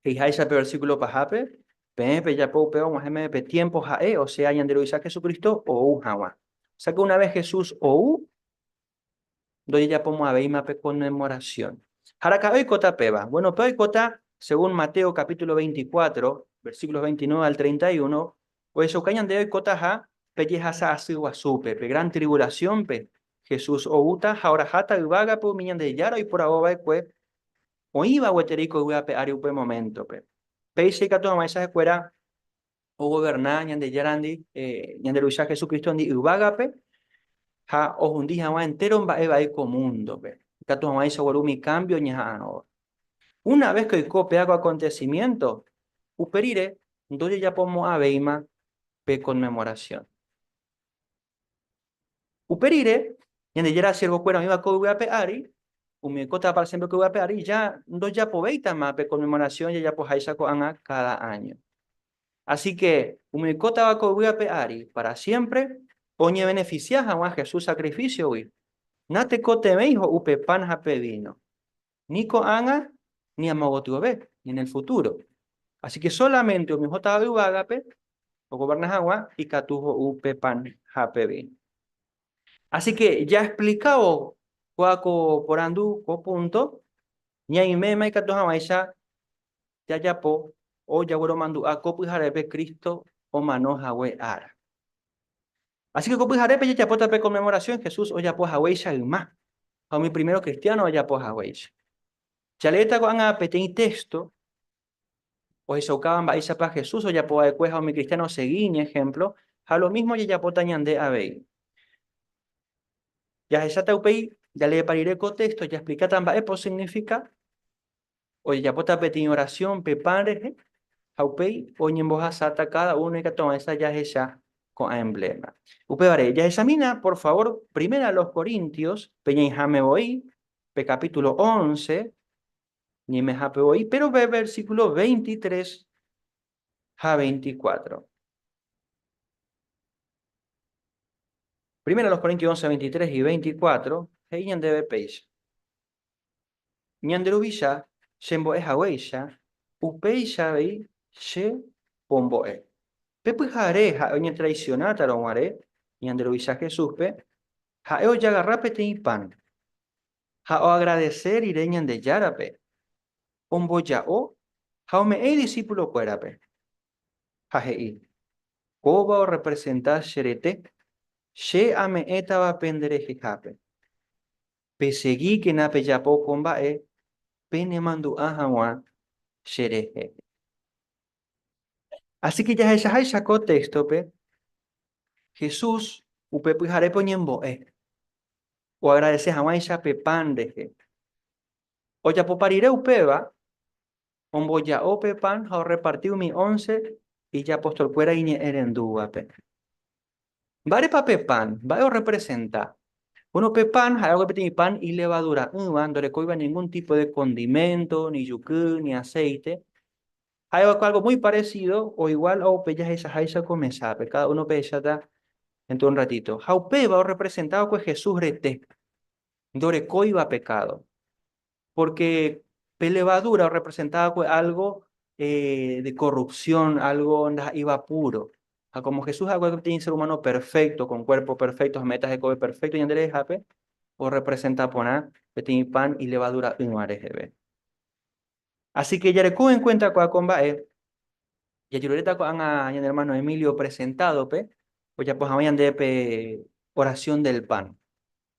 He'iháicha pe versíkulo pahápe, Peẽ pejapo upéva og̃uahẽ meve pe tiémpo ha'e, osea ñande Ruvicha Jesucristo, ou hag̃ua. Osẽ que una ves Jesús ou, ndojejapomo'ãvéima pe conmemoración. Ha araka'e oikóta péva? Bueno, pe oikóta, según Mateo capítulo 24, versíkulos 29 al 31, ohechauka ñande oikótaha pe jehasa asy guasúpe, pe gran tribulación-pe, Jesús oúta ha oraháta yvágape umi Ñandejára oiporavova'ekue oĩva gueteri koygue ape ári upe moméntope. Péicha ikatu hag̃uáicha ha'ekuéra ogoverna Ñandejárandi ñande Ruvicha Jesucristondi yvágape ha ohundi hag̃ua entéro mba'e vai ko múndope, ikatu hag̃uáicha ogueru umi kámbio ñaha'arõva. Una ves que oiko péva ko akontesimiénto, upe rire ndojejapomo'ãvéima pe Konmemorasión. Upe rire, Ñandejára siervokuéra oĩva ko yvy ape ári, umi oikótava pára siémpre ko yvy ape ári, ja ndojapovéitama pe konmemorasión jajapoháicha ko'ág̃a káda áño. Asíke umi oikótava ko yvy ape ári pára siémpre oñevenefisia hag̃ua Jesús sakrifísiogui, natekotevẽi ho'u pe pan ha pe víno. ni ko'ág̃a ni amogotyove, ni en el futuro. Así ke solamente umi ohótava yvágape ogoverna hag̃ua ikatu ho'u pe pan ha pe víno. Así ke jaexplikávo kua ko porandu, ko púnto, ñaiméma ikatu hag̃uáicha jajapo o jagueromandu'a ko pyharépe Cristo omano hague ára. Asíke ko pyharépe jajapóta pe Konmemorasión Jesús ojapo haguéicha yma ha umi primero kristiáno ojapo haguéicha. Jaleéta ko'ág̃a peteĩ téxto ohechaukáva mba'éichapa Jesús ojapo va'ekue ha umi kristiáno osegi iñehémplo, ha lo mísmo jajapóta ñande avei. Jahecháta upéi, jaleepa rire ko téxto jasplikáta mba'épa osignifika. Ojejapóta peteĩ orasión pe pan rehe, ha upéi oñembohasáta káda uno ikatuaguãicha jahecha ko'ã embléma. Upévare, jahechamína, por favór, Primera a los Corintios, peñaĩháme voi pe kapítulo ónce ñemehápe voi, péro pe versíkulo veintitres ha veintikuátro. Primera a los Corintios ónce veintitres y veintikuátro he'i ñandéve péicha, Ñande Ruvicha chembo'e haguéicha, upéicha avei che pombo'e. Pe pyhare ha'e oñetraicionátarõ guare ñande Ruvicha Jesúspe, ha'e ojagarra peteĩ pan, ha oagradese rire Ñandejárape, omboja'o ha ome'ẽ idisípulo kuérape, ha he'i, Kóva orrepresenta che rete, che ame'ẽtava penderehehápe. Pesegíkena pejapo ko mba'e penemandu'a hag̃ua cherehe. Así ke jahechaháicha ko téxtope, Jesús upe pyharépe oñembo'e oagradese hag̃uáicha pe pan rehe. Ojapopa rire upéva, omboja'o pe pan ha orreparti umi ónce ijapostolkuéra iñe'ẽrendúvape. Mba'érepa pe pan? Mba'e orrepresenta? Bóno, pe pan ha'e oguapy peteĩ pan ilevadura'ỹva, ndorekóiva ningún típo de kondiménto, ni juky, ni aséite. Ha'e oiko álgo muy paresído o iguál ao pe jahechaháicha ko mesápe. Káda uno opehecháta déntro de un ratito. Ha upéva orrepresenta va'ekue Jesús rete, ndorekóiva pekádo. Pórke pe levadúra orrepresenta va'ekue álgo de korrupsión, álgo ndaha'éiva púro. Ha kómo Jesús ha'ekuéra peteĩ sér umáno perfékto, kon kuérpo perfékto ha méta hekove perfékto ñande rehehápe, orrepresenta porã peteĩ pan ilevadura'ỹva reheve. Así ke jareko enkuénta ko'ã ko mba'e, jajeruréta ko'ág̃a ñane ermáno Emilio presentádope ojapo hag̃ua ñande pe Oración del Pan.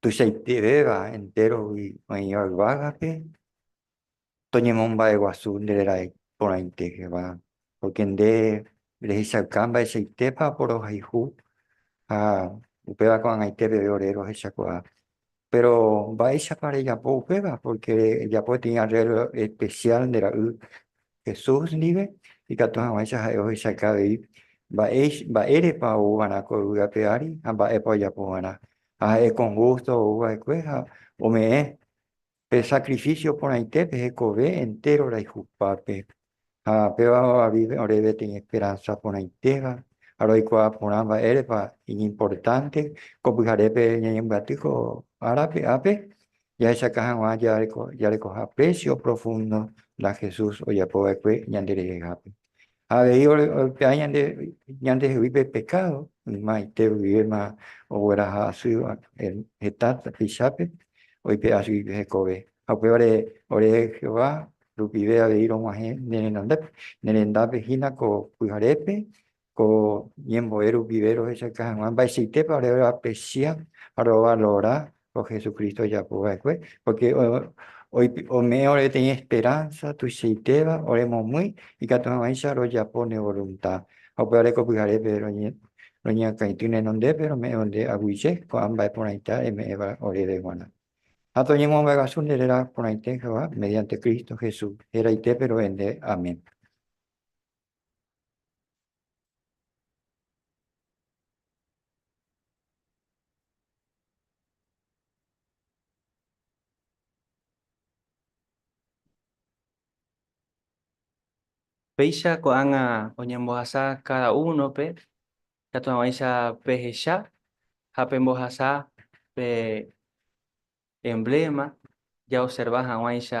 tuichaitevéva enterogui oĩva yvágape, toñemomba'eguasu nde rerae porãitegeva, pórke nde rehechauka mba'eichaitépa oporohayhu ha upéva ko'ag̃aite peve ore rohechakuaa. Péro mba'éichapa rejapo upéva? Pórke rejapo peteĩ arréglo espesiál nde ra'y Jesús ndive, ikatu hag̃uáicha ha'e ohechauka avei mba'érepa ou va'erã ko yvýape ári ha mba'épa ojapo va'erã. Ha ha'e ko Justo ou va'ekue ha ome'ẽ pe sakrifísio porãite pe hekove entéro rayhupápe. Ha péva ovavi ore peteĩ esperánsa porãitéva ha roikuaa porã mba'érepa iñimportánte ko pyharépe ñañembyaty ko árape ápe Jahechaka hag̃ua jarekoha péicha oprofúndo la Jesús ojapo va'ekue ñanderehehápe. Ha avei orepe'a ñandehegui pe pekádo, ymaite rupivéma ogueraha asýva heta tupichápe oipe'a chugui pe hekove. Ha upévare ore Jehová rupive avei rog̃uahẽ ne renondápe, ne rendápe hína ko pyharépe Ko ñembo'e rupive rohechauka hag̃ua mba'eichaitépa ore roapresia ha rovalora ko Jesucristo ojapo va'ekue, pórke ome'ẽ ore peteĩ esperánsa tuichaitéva oremomýi ikatu hag̃uáicha rojapo ne volunta. Ha upévare ko pyharépe roñeakãity nenondépe rome'ẽvo nde aguyje ko'ã mba'e porãita eme'ẽva oréve g̃uarã. Ha toñemomba'eguasu nde réra porãite Jehová mediante Cristo Jesús, héraite pero'e nde. Amén. Péicha ko'ág̃a oñembohasa káda únope katu hag̃uáicha pehecha ha pembohasa pe embléma jaoserva hag̃uáicha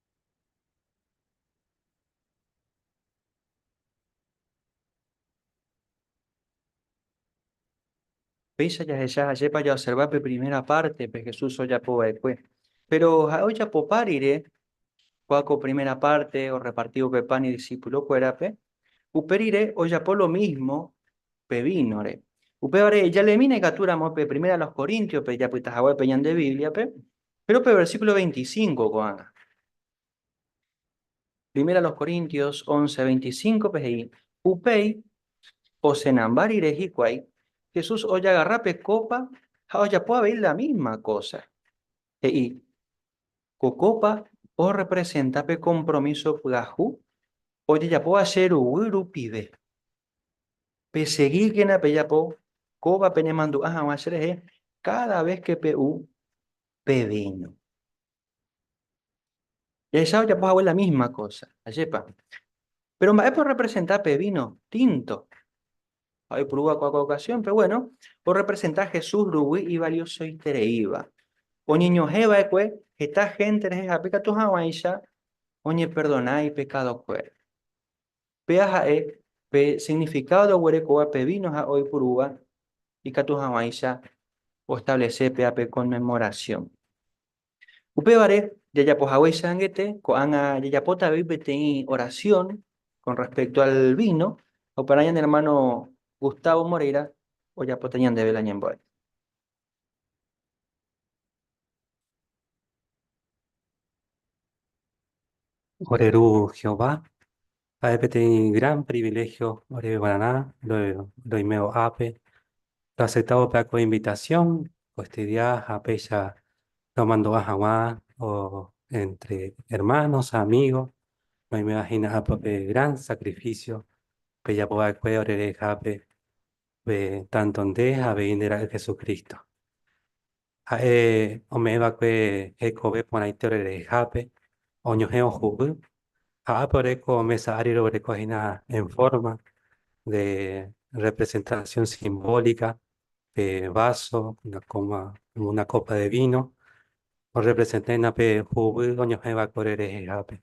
Péicha jahecha ajépa jaoserva pe primera pártepe Jesús ojapo va'ekue. Péro ha'e ojapopa rire kua ko primera párte orreparti upe pán idisipulokuérape, upe rire ojapo lo mísmo pe vínore. Upévare jalemína ikatúramo pe Primera a los Coríntiospe japyta haguépe ñande Bíbliape, Péro pe versíkulo 25 ko'ág̃a, Primera a los Corintios once, veinticinco-pe he'i, Upéi osenamba rire hikuái, Jesús ojagarra pe kópa ha ojapo avei la mísma kósa. He'i, Ko kópa orrepresenta pe kompromíso pyahu ojejapóva che ruguy rupive. Pesegíkena pejapo kóva penemandu'a hag̃ua cherehe káda ves ke pe'u pe víno. Jahecha ojapo hague la mísma kósa, ajépa. Péro mba'épa orrepresenta pe víno tínto? Ha oipuru va'ekue ko okasiónpe. Gueno, orrepresenta Jesús ruguy ivaliosoitereíva. Oñeñohẽ va'ekue heta hénte rehe ha pe katu hag̃uáicha oñeperdona ipekádokuéra. Péa ha'e pe signifikádo roguerekóva pe víno ha oipurúva ikatu hag̃uáicha oestablese péa pe Conmemoración. Upévare, jajapo hagueichag̃uichaite, ko'ág̃a jajapóta avei peteĩ orasión kon rrespékto al víno, ha oparã ñane ermáno Gustavo Moreira ojapóta ñandéve la ñembo'e. Ore ru Jehová, ha'e peteĩ gran priviléhio oreveguararã roime ho'ápe. Roaseptávo pe akói invitasión oestudia ha péicha romandu'a hag̃ua éntre ermános ha amígos. Oimevahína ápe pe gran sakrifísio pejapo va'ekue orerehehápe. Pe tanto nde ha avei nde Ra'y Jesucristo. Ha'e ome'ẽ va'ekue hekove porãite ore rehehápe, oñohẽ ohu'ỹ, ha ápe ore ko mesa ári roguereko hína en forma de representación simbólica, pe vaso, una coma, una copa de vino, orrepresenta hína pe hu'ỹ oñohẽ va'ekue ore rehehápe.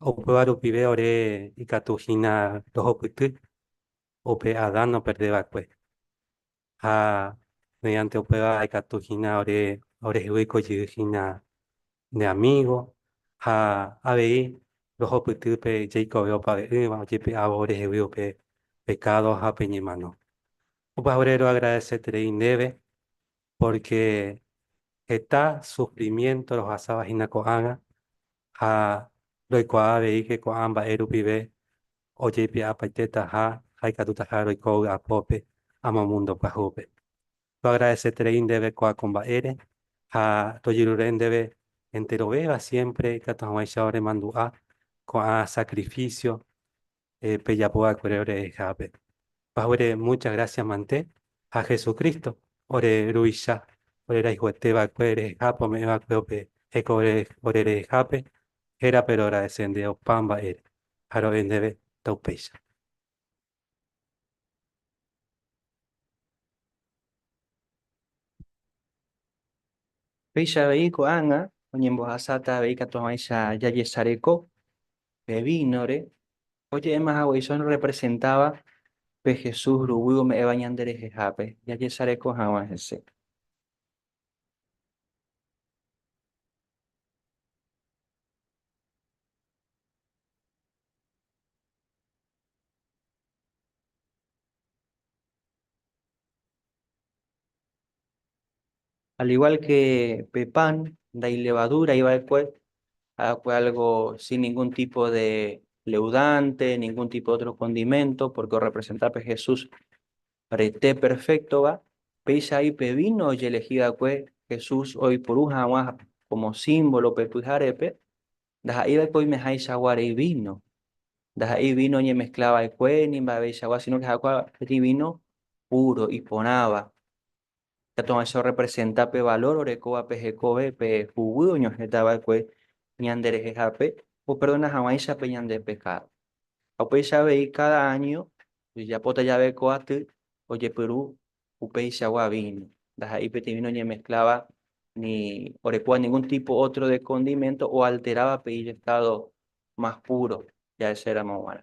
Upéva rupive ore ikatu hína rohupyty upe Adán noperde va'ekue. Ha mediante upéva ikatu hína ore orehegui ko jey hína nde amigo, ha avei rohupyty pe jeikove opave'ỹva ojepe'ávo orehegui upe pecado ha pe ñemano. Opavave roagradeseterei ndéve porque heta sufrimiento rohasava hína ko'ágã ha roikuaa aveíke ko'ã mba'e rupive ojeipe'apaitétaha ha ikatutaha roiko vy'apópe amo múndo pyahupe. Toagradeseterei ndéve ko'ã ko mba'ére ha tojerure ndéve enterovéva siémpre ikatu hag̃uáicha oremandu'a ko'ã sakrifísio pejapo va'ekuére ore rehehápe. Pahúere mucha grásia mante ha Jesucristo ore Ruvicha ore rayhuete va'ekue rehehápe ome'ẽ va'ekue upe hekove ore rehehápe, hérape roagradesende opa mba'ére ha ro'e ndéve ta upéicha. Péicha avei ko'ág̃a oñembohasáta avei katuavãicha jajesareko pe vínore, oje'éma haguéicha oñerepresentáva pe Jesús ruguy ome'ẽva ñanderehehápe, jajesareko hag̃ua hese. Al igual que pe pan ndailevadúrai va'ekue, ha'akue algo sin ningún tipo de leudante, ningún tipo de otro condimento, porque orrepresenta pe Jesús rete perféktova, péichai pe víno ojelehi va'ekue Jesús oipuru hag̃ua como símbolo pe pyharépe, ndaha'éi va'ekue oimehaichagua rei víno, ndaha'éi víno oñemezcla va'ekue ni mba'eveichagua, sino que ha'akue rei víno puro, iporãva. Ikatu'ãicha orrepresenta pe valor orekóva pe hekove, pe huguy oñohẽta va'ekue ñanderehehápe operdona hag̃uáicha pe ñande pekádo. Ha upéicha avei káda áño ojejapóta jave ko aty, ojepyru upeichagua víno. Ndaha'éi peteĩ víno oñemeskláva ni orekóva ningún típo ótro de kondiménto oalteráva pe ijestádo más púro jahecéramo g̃uarã.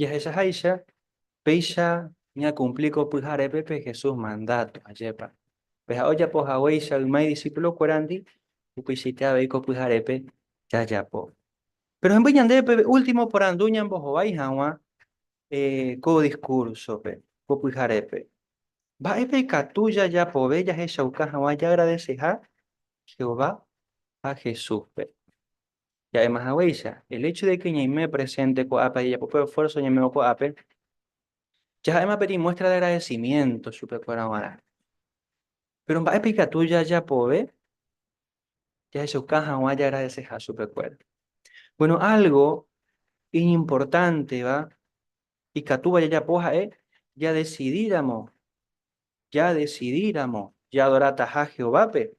Jahechaháicha, péicha ñakumpli ko pyharépe pe Jesús mandáto. Ajépa! Peha ojapo haguéicha yma idisipulokuérandi, upeichaite avei ko pyharépe jajapo. Péro hemby ñandéve pe último porandu ñambohovái hag̃ua ko diskúrsope ko pyharépe. Mba'épa ikatu jajapove jahechauka hag̃ua jaagradeseha Jehová ha Jesúspe? Ja'éma haguéicha, el hecho de que ñaime presente ko'ápe ha jajapo pe esfuerzo ñame'õ ko'ápe, jaha'éma pe demuestra de agradecimiento chupekuéra g̃uarã. Péro mba'épa ikatu jajapove jahechauka hag̃ua jagradeseha chupekuéra? Bueno, algo iñimportánteva ikatúva jajapo ha'e jadesidíramo, jadesidíramo jadorataha Jehovápe,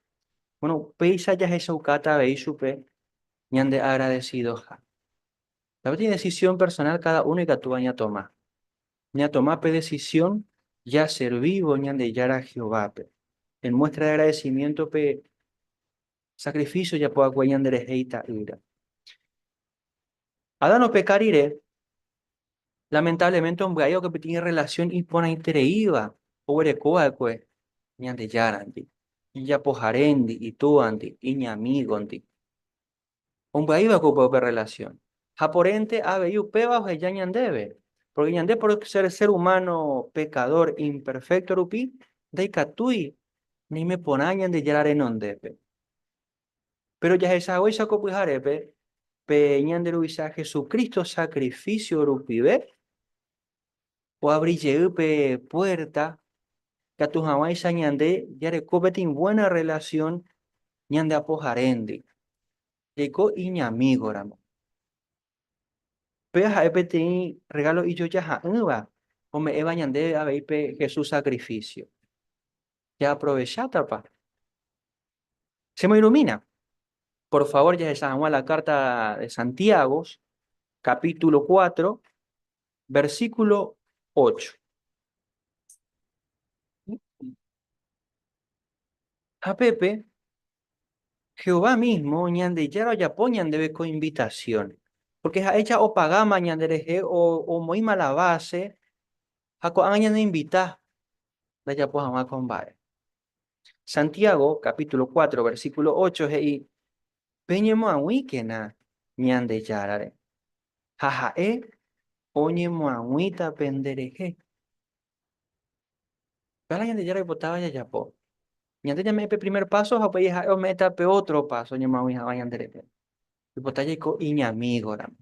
bueno, upéicha jahechaukáta avei chupe ñandeagradesidoha. Távati idesisión personál káda uno ikatúva ñatoma. Ñatoma pe desisión jaservívo Ñandejára Jehovápe, en muéstra de agradesimiéntope Sakrifísio ojapo hague ñanderehe Ita'ýra. Adán opeka rire, lamentáblemente ombya'évo ko pitĩ rrelasión iporãitereíva oguereko va'ekue Ñandejárandi, ijapoharéndi, itúandi, iñamígondi. Ombyai va'ekue upéva upe rrelasión. Ha porẽnte avei upéva oheja ñandéve, pórke ñande por sér ser umáno pekadór, imperfékto rupi, ndaikatúi Oime porã Ñandejára renondépe. Péro jahechavéicha ko pyharépe pe Ñande Ruvicha Jesucristo sakrifísio rupive, oabri jey pe puérta ikatu hag̃uáicha ñande jareko peteĩ vuéna rrelasión ñande Apoharéndi, jaiko iñamígoramo. Péva ha'e peteĩ rregálo ijojaha'ỹva ome'ẽva ñandéve avei pe Jesús sakrifísio. Jaaprovechátapa? Chemoirumína. Por favór jahecha hag̃ua la kárta de Santiago, kapítulo kuátro, versíkulo ócho. Ha pépe Jehová mísmo Ñandejára ojapo ñandéve ko invitasión. Pórke ha'éicha opagáma ñanderehe, omoĩma la báse ha ko'ág̃a ñanoinvita ndajapo hag̃ua ko mba'e. Santiago kapítulo cuatro, versíkulo ocho he'i, Peñemoag̃uíkena Ñandejárare, ha ha'e oñemoag̃uíta penderehe. Kána Ñandejára oipotáva jajapo. Ñande ñame'ẽ pe primer paso ha upéi ha'e ome'ẽta pe ótro paso oñemoag̃ui hag̃ua ñanderehe. Oipota jaiko iñamígoramo.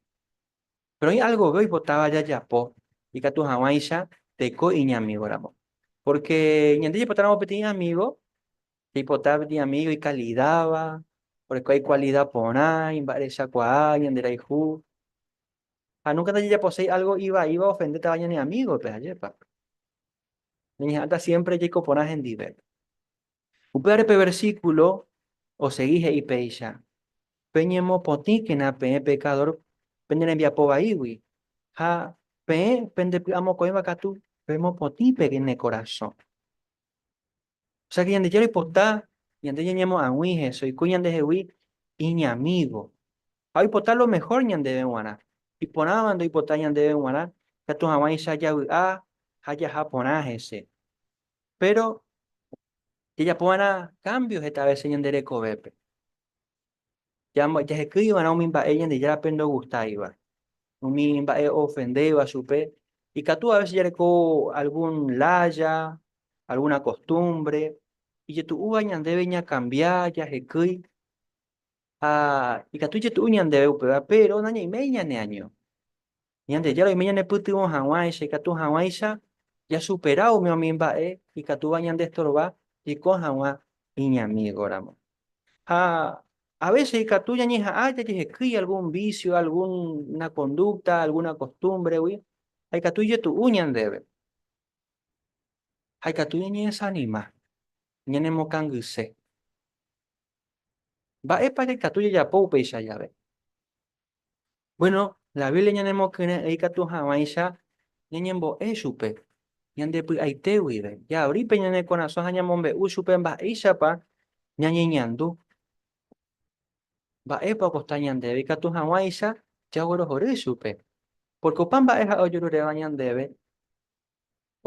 Péro oĩ algove oipotáva jajapo ikatu hag̃uáicha teiko iñamígoramo. Pórke ñande jaipotáramo peteĩ amígo, jaipota peteĩ amígo ikalidáva, orekóva ikualida porã, imba'erechakuaa, ñanderayhu. Ha núnka ndajajaposéi álgo ivaíva ofendétava ñane amígope, ajépa? Ñañeha'ãta siémpre jaiko porã hendive. Upévare pe versíkulo osegi he'i péicha, Peñemopotĩkena peẽ pekadór pene rembiapo vaígui, ha peẽ pendepy'amokõiva katu pemopotĩ pene korasõ. Ósea ke Ñandejára oipota ñande ñañemo'ag̃ui hese, oiko ñandehegui iñamígo, ha oipota lo mehór ñandéve g̃uarã. Iporãva ndoipota ñandéve g̃uarã ikatu hag̃uáicha javy'a ha jaha porã hese. Péro jajapo va'erã kámbio heta vése ñande rekovépe. jahekýi va'erã umi mba'e Ñandejárape ndogustáiva, umi mba'e oofendéva chupe. Ikatu avese jareko algún lája, algúna kostúmbre ijetu'úva ñandéve ñakambia, jahekýi ha ikatu ijetu'u ñandéve upéva, péro nañaiméi ñaneaño. Ñandejára oime ñanepytyvõ hag̃uáicha, ikatu hag̃uáicha jasupera ume'õmi mba'e ikatúva ñandestorva jeko hag̃ua iñamígoramo. Ha a vése ikatu ñañeha'ã jajehekýi algún vísio, algúna kondúkta, algúna kostúmvregui, ha ikatu ijetu'u ñandéve. Ha ikatu ñañedesanima, ñanemokangyse. Mba'épa jaikatu jajapo upéicha jave? Bueno, la Biblia ñanemokyre'ỹi katu hag̃uáicha ñañembo'e chupe ñande py'aite guive. Jaori pe ñane korasõ ha ñamombe'u chupe mba'éichapa ñañeñandu, mba'épa okosta ñandéve ikatu hag̃uáicha jaguerohory chupe. Pórke opa mba'e ha'e ojeruréva ñandéve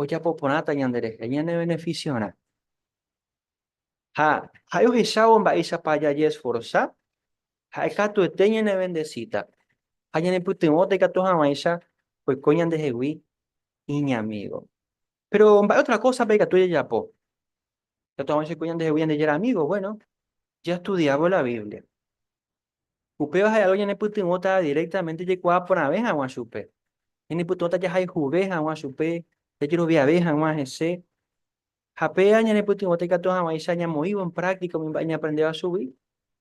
ojapo porãta ñanderehe ñanevenefisiorã. Ha ha'e ohechávo mba'éichapa jajesforsa, ha'e katuete ñanevendesíta ha ñanepytyvõta ikatu hag̃uáicha oiko ñandehegui iñamígo. Péro mba'e ótra kósapa ikatu jajapo ikatu hag̃uáicha oiko ñandehegui Ñandejára amígo? Buéno, jastudiávo la Biblia. Upéva ha'e álgo ñanepytyvõta direktamente jaikuaa porãve hag̃ua chupe. Ñanepytyvõta jahayhuve hag̃ua chupe, jajeroviave hag̃ua hese. Ha péa ñanepytyvõta ikatu hag̃uáicha ñamoĩvo en práctica umi mba'e ñaaprendéva chugui,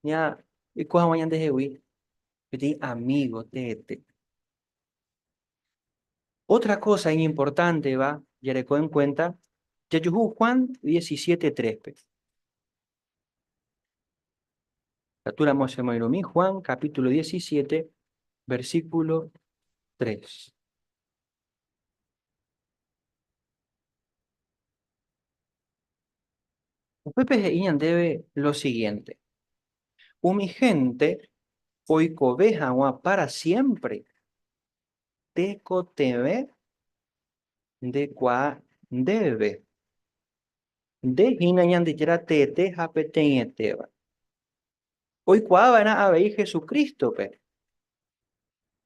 ñaiko hag̃ua ñandehegui peteĩ amigo teete. Otra cosa iñimportánteva jareko en cuenta jajuhu Juan diecisiete tréspe. Ikatúramo chemoirũmi Juan capítulo diecisiete versículo tres. Upépe he'i ñandéve lo siguiénte, Umi hénte oikove hag̃ua pára siémpre tekotevẽ ndekuaa ndéve. Nde hína Ñandejára teete ha peteĩetéva. oikuaava'erã avei Hesu Crístope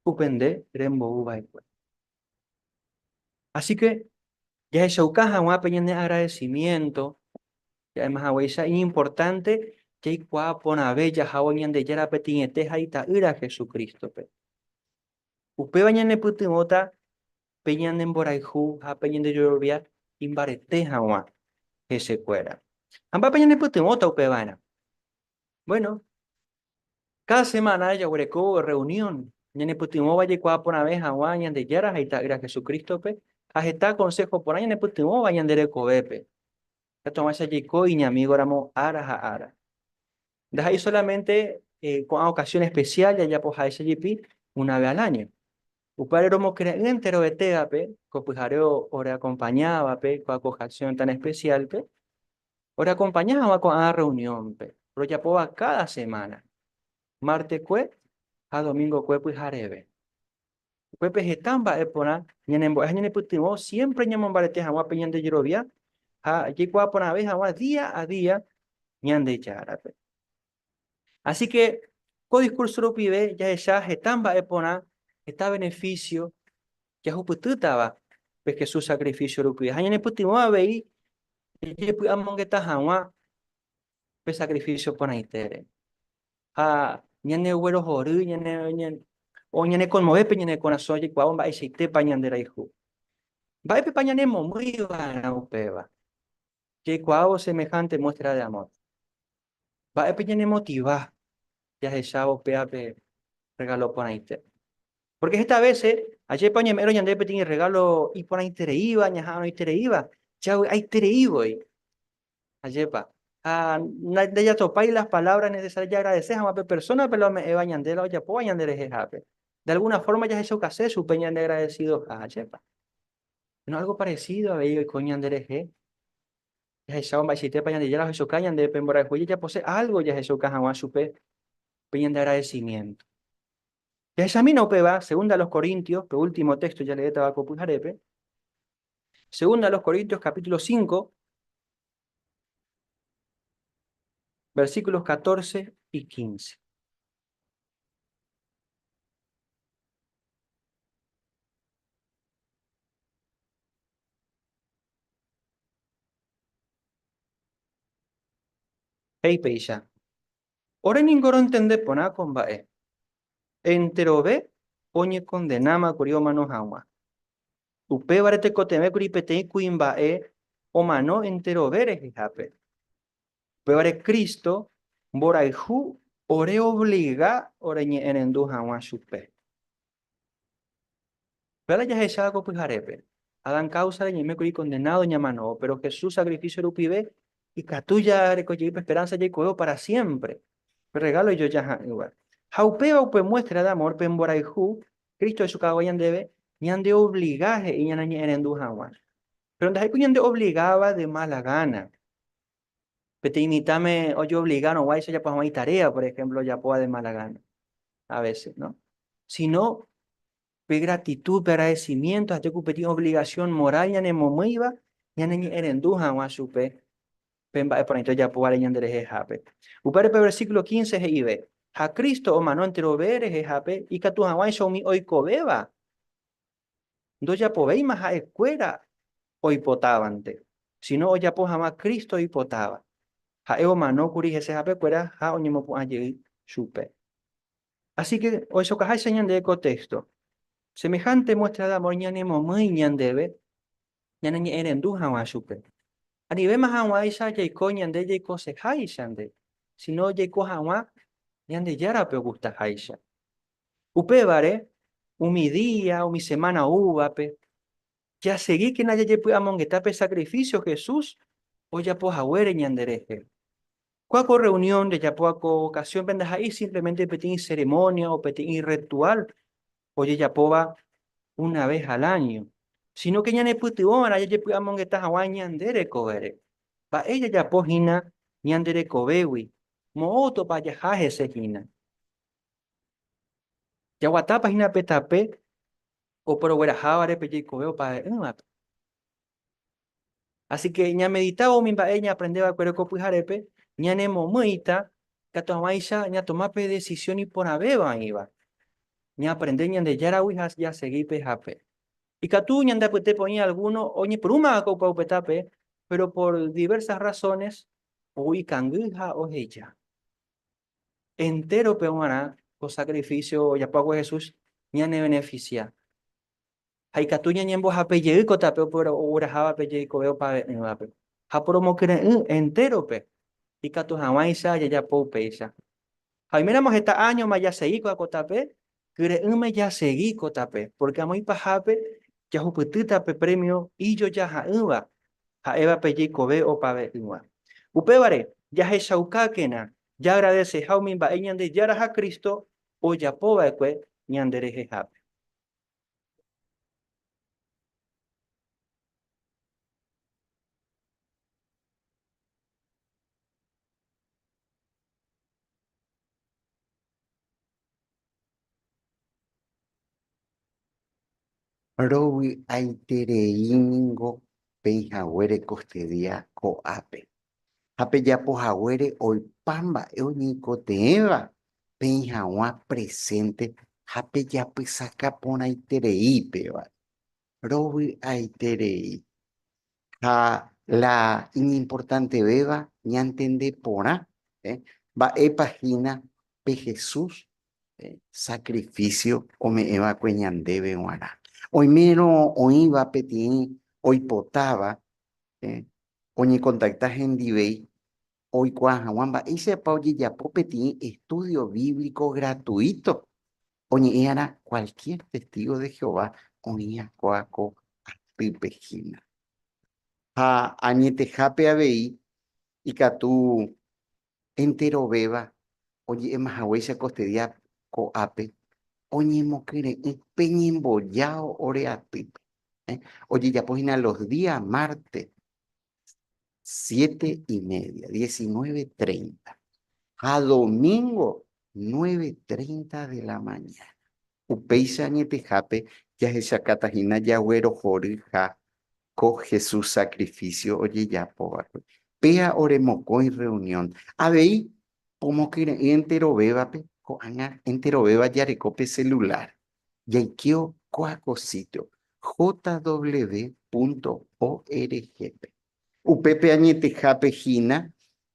upe nde rembouva'ekue. Asíke jahechauka hag̃ua pe ñane agradesimiénto, ja'éma haguéicha iñimportánte jaikuaa porãve jahávo Ñandejára Peteĩete ha Ita'ýra Hesu Crístope. Upéva ñanepytyvõta pe ñane mborayhu ha pe ñande jorovia imbarete haguã hese kuéra. Ha mba'épa ñane pytyvõta upe vaerã? Bueno, cada semana jaguereko reunión, ñane pytyvõ va jaikuaa porãve haguã Ñandejára ha Ita'ýra Jesucrístope, ha heta consejo porã ñane pytyvõ va ñande rekovépe. Katuavãicha jaiko iñamigo ramo ára ha ára. Ndaha'éi solamente ko'ã ocasión especial jajapo ha'éicha jepi una vez al año. Upévare romokyre'ỹ enteroetévape ko pyhare oreakompañávape ko ocasión tan especial-pe, oreakompaña hag̃ua ko'ã rreunión-pe rojapóva káda semana, martekue ha domingokue pyhareve. Upépe heta mba'e porã ñanembo'e ha ñanepytyvõ siémpre ñamombarete hag̃ua pe ñande jerovia ha jaikuaa porãve hag̃ua día a día Ñandejárape. Asíke ko diskúrso rupive jahecha heta mba'e porã, heta benefísio jahupytýtava pe Jesús sakrifísio rupive ha ñanepytyvõ avei jajepy'amongeta hag̃ua pe sacrificio porãitére. Ha ñaneguerohory, o ñanekonmove pe ñane korasõ jaikuaávo mba'eichaitépa ñanderayhu. Mba'épepa ñanemomýi va'erã upéva? Jaikuaávo semejante muestra de amor. Mba'épe ñanemotiva jahechávo upéva pe regalo porãite? Porque heta vece, ajépa oñeme'ẽrõ ñandéve peteĩ regalo iporãitereíva, ñaha'arõitereíva, javy'aitereívoi. Ajépa. Ha ndajatopái las palabras necesarias jaagradecer hag̃ua pe persónape la ome'ẽva ñande la ojapóva ñanderehehápe. De alguna forma jahechokase chupe ñandeagradesidoha, ajépa. Péro algo parecido avei oiko ñanderehe. Jahechávo mba'eichaitépa Ñandejára ohechoka ñandéve pe mborayhu jajapose algo jahechoka hag̃ua chupe pe ñandeagradecimiento. Jahechamína upéva Segunda a los Corintios, pe último texto jaleétava ko pyharépe. Segunda a los Corintios capítulo 5, versículos 14 y 15. Hey peicha. Ore ningo rontende porã ko mba'e. Enterove oñekondenáma kuri omano hag̃ua. Upévare tekotevẽkuri peteĩ kuimba'e omano enterove rehehápe. Upévare Cristo mborayhu oreobliga oreñe'ẽrendu hag̃ua chupe. Upévare jahecháva ko pyharépe, Adán káusa reñe'ẽme kuri kondenádo ñamano, péro Jesús sakrifísio rupive ikatu jareko jey pe esperánsa jaikovévo pára siémpre, pe rregálo ijojaha'ỹva. Ha upéva upe muéstra de amór pe mborayhu Cristo echukava'ekue ñandéve, ñandeobliga he'i ñaneñe'ẽrendu hag̃ua. Péro ndaha'éi ku ñandeobligáva de mala gána. Peteĩ mitãme ojeovligárõguaicha ojapo hag̃ua itaréa, por ehémplo, ojapóva de mala gána a vése. Síno pe gratitúd, pe agradesimiénto ha tekupetĩ ovligasión moral ñanemomýiva ñaneñe'ẽrendu hag̃ua chupe. pe mba'eporãite ojapóvare ñanderehehápe. Upévare pe versículo 15 he'ive, Ha Cristo omano enterove rehehápe ikatu hag̃uáicha umi oikovéva ndojapovéima ha'ekuéra oipotávante, síno ojapo hag̃ua Cristo oipotáva. Ha'e omanókuri hese hapekuéra ha oñemopu'ã jey chupe. Así que ohechakuaaháicha ñande ko téxto. Semejánte muéstra de amor ñanemomýi ñandéve ñaneñe'ẽrendu hag̃ua chupe. Anivéma hag̃uáicha jaiko ñande jaikoseháicha nde, síno jaiko hag̃ua Ñandejárape ogustaháicha. Upévare, umi día, umi semána oúvape, jasegíkena jajepy'amongeta pe sakrifísio Jesús ojapo haguére ñanderehe. Kua ko rreunión jajapóva ko vokasiónpe ndaha'éi símplemente peteĩ seremónia o peteĩ rretuál ojejapóva una ves al áño, sínóke ñanepytyvõ va'erã jajepy'amongeta hag̃ua ñande rekovére. Mba'e jajapo hína ñande rekovégui, moõtapa jaha hese hína. Jaguatápa hína pe tape oporoguerahávare pe jeikove opavave'ỹvape. Asíke ñameditávo umi mba'e ñaaprende va'ekuére ko pyharépe, ñanemomýita katu hag̃uáicha ñatoma pe desisión iporãvéva oĩva, ñaaprende Ñandejáragui ha jasegi pe ha pe. Ikatu ñande apytépe oĩ algúno oñepyrũma va'ekue upe opetápe, péro por divérsas rrasónes ou ikangy ha oheja. Entérope g̃uarã ko sakrifísio ojapo va'ekue Jesús ñanevenefisia. ha ikatu ñañembohape jey ko tape oguerahávape jeikove opave'ỹvape, ha poromokyre'ỹ entérope ikatu hag̃uáicha jajapo upéicha. Ha oiméramo heta áñoma jasegíkova ko tape, kyre'ỹme jasegi ko tape, pórke amo ipahápe jahupytýta pe prémio ijoja ha'ỹva, ha'éva pe jeikove opave'ỹva. Upévare, jahechaukákena jaagradeseha umi mba'e Ñandejára ha Cristo ojapova'ekue ñanderehehápe. Rovy'aiterei ningo peihaguére kostydia ko'ápe. ha pejapo haguére oipa mba'e oñeikotevẽva peĩ haguã presente ha pejapysaka porãiterei péva, rovy'aiterei. Ha la iñimportantevéva ñantende porã mba'épa hína pe Jesús sakrifísio ome'ẽ va'ekue ñandéve g̃uarã. Oimérõ oĩva peteĩ oipotáva oñekontakta hendivéi oikuaa hag̃ua mba'éichapa ojejapo peteĩ estúdio bíblico gratuíto oñe'ẽ'arã kualkiér testígo de Jehová oĩ'akóa ko atýpe hína. Ha añetehápe avei ikatu enterovéva oje'éma haguéicha kostedia ko'ápe oñemokyre'ỹ pe ñembojao ore atýpe. Ojejapo hína los día márte siete y media, diecinueve treinta ha domingo nueve treinta de la mañana. Upéicha añetehápe jahechakata hína jaguerohoryha ko Jesús sacrificio ojejapóvape. Péa ore mokõi rreunión, avei pomokyre'ỹ enterovévape, ko'ág̃a enterovéva jareko pe celular. Jaikeo kóa ko sitio, jw.org-pe. Upépe añetehápe hína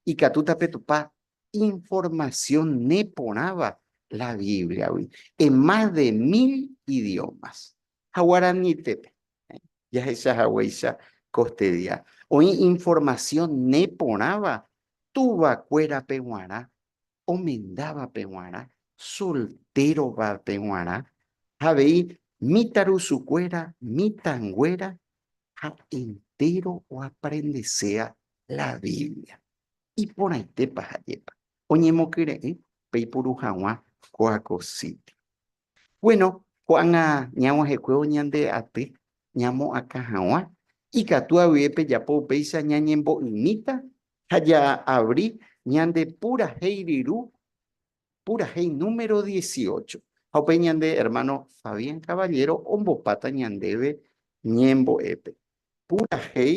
ikatúta pe Tupã informasión neporãva la Bíbliagui en más de mil idiómas. Ha guaranítepe, jahecha haguéicha ko este día, oĩ informasión neporãva tuvakuérape g̃uarã, omendávape g̃uarã, soltérovape g̃uarã ha avei mitãrusukuéra, mitãnguéra ha entéro oaprendeséva la Biblia. Iporãitépa ha'épa oñemokyre'ỹ peipuru hag̃ua Coaco City? Bueno, ko'ág̃a ñag̃uahẽkuévo ñande aty ñamoakã hag̃ua, ikatu avei pejapo upéicha ñañembo'ymíta ha jaavri ñande purahéi ryru, purahéi número dieciocho. Ha upéi ñande ermáno Fabián Caballero ombopáta ñandéve ñembo'épe. Purahéi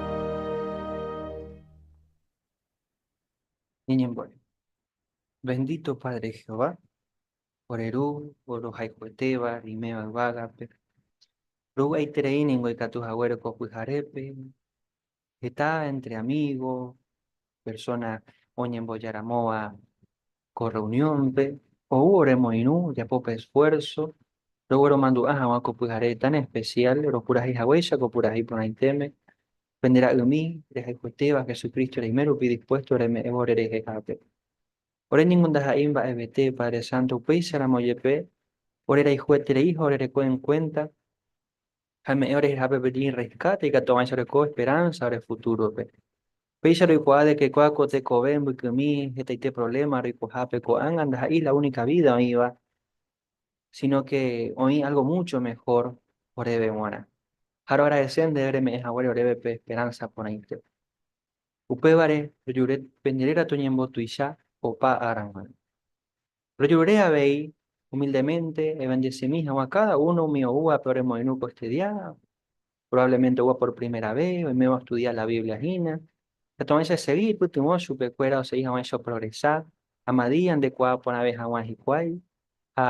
Ñeñembo'e. Bendito Padre Jehová, ore Ru, Orohayhuetéva, Riméva Yvágape, rovy'aiterei ningo ikatu haguére ko pyharépe, heta entre amigo, persona oñembojaramóva, Ko rreuniónpe ou ore moirũ ojapo pe esfuérso rogueromandu'a hag̃ua ko pyhare tan espesiál ropurahéi haguéicha ko purahéi porãitéme pende ra'ymi rehayhuetéva Jesucristo reime rupi dispuésto reme'ẽvo ore rehehápe. Ore ningo ndaha'éi mba'evete Padre Santo upéicharamo jepe orerayhuetereíha orereko en cuenta ha eme'ẽ orehehápe peteĩ rescate ikatu'avãicha oreko esperanza ore futurope. Péicha roikuaa de que kua ko tekove mbykymi hetaite problema roikohápe ko'ág̃a ndaha'éi la única vida oĩva, sino que oĩ algo mucho mejor oréve g̃uarã. Ha roagradece ndéve reme'ẽ haguére oréve pe esperanza porãite. Upévare rejure pende réra toñembotuicha opa ára g̃uarã. Rojurure avei humildemente ebendecimi hag̃ua cada uno umi oúvape oremoirũ ko este día Probablemente oúva por primera vez, oiméva ostudia la Biblia hína. Katuavẽicha esegi ipytyvõ chupekuéra osegi hag̃ua ichoprogresa ha madía ndekuaa porãve hag̃ua hikuái ha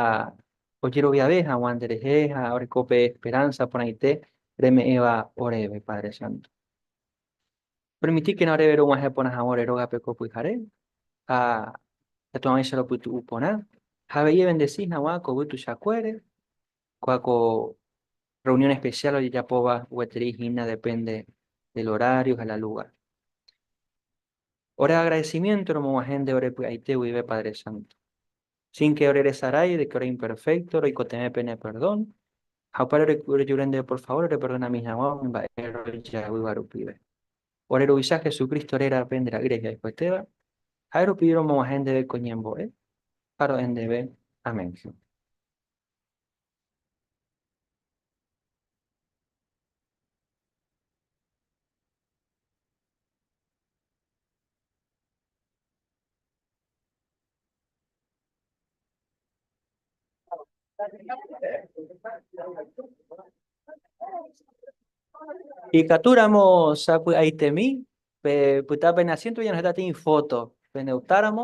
ojeroviave hag̃ua nderehe ha oreko pe esperánsa porãite reme'ẽva oréve, Padre Santo. Permitíkena oréve rog̃uahẽ porã hag̃ua ore rógape ko pyhare ha katuavẽicha ropytu'u porã ha avei evendesi hag̃ua ko yvy tuichakuére Kua ko reunión especial ojejapóva gueteri hína depende del horario ha la lugar. Ore agradecimiento romog̃uahẽ nde ore py'aite guive Padre Santo. Sin que ore resarái de que ore imperfecto, roikotevẽ pene perdón, ha upéra orejure ndéve por favor reperdonami hag̃ua umi mba'e rojaguýva rupive. Ore Ruvicha Jesucristo rérape nde Ra'y rehe aikuetéva, ha'e rupi romog̃uahẽ ndéve ko ñembo'e ha ro'e ndéve. Amén. Ikatúramo sapy'aitemi pe pytã pene asiénto oñeno heta tĩi fóto, pene optáramo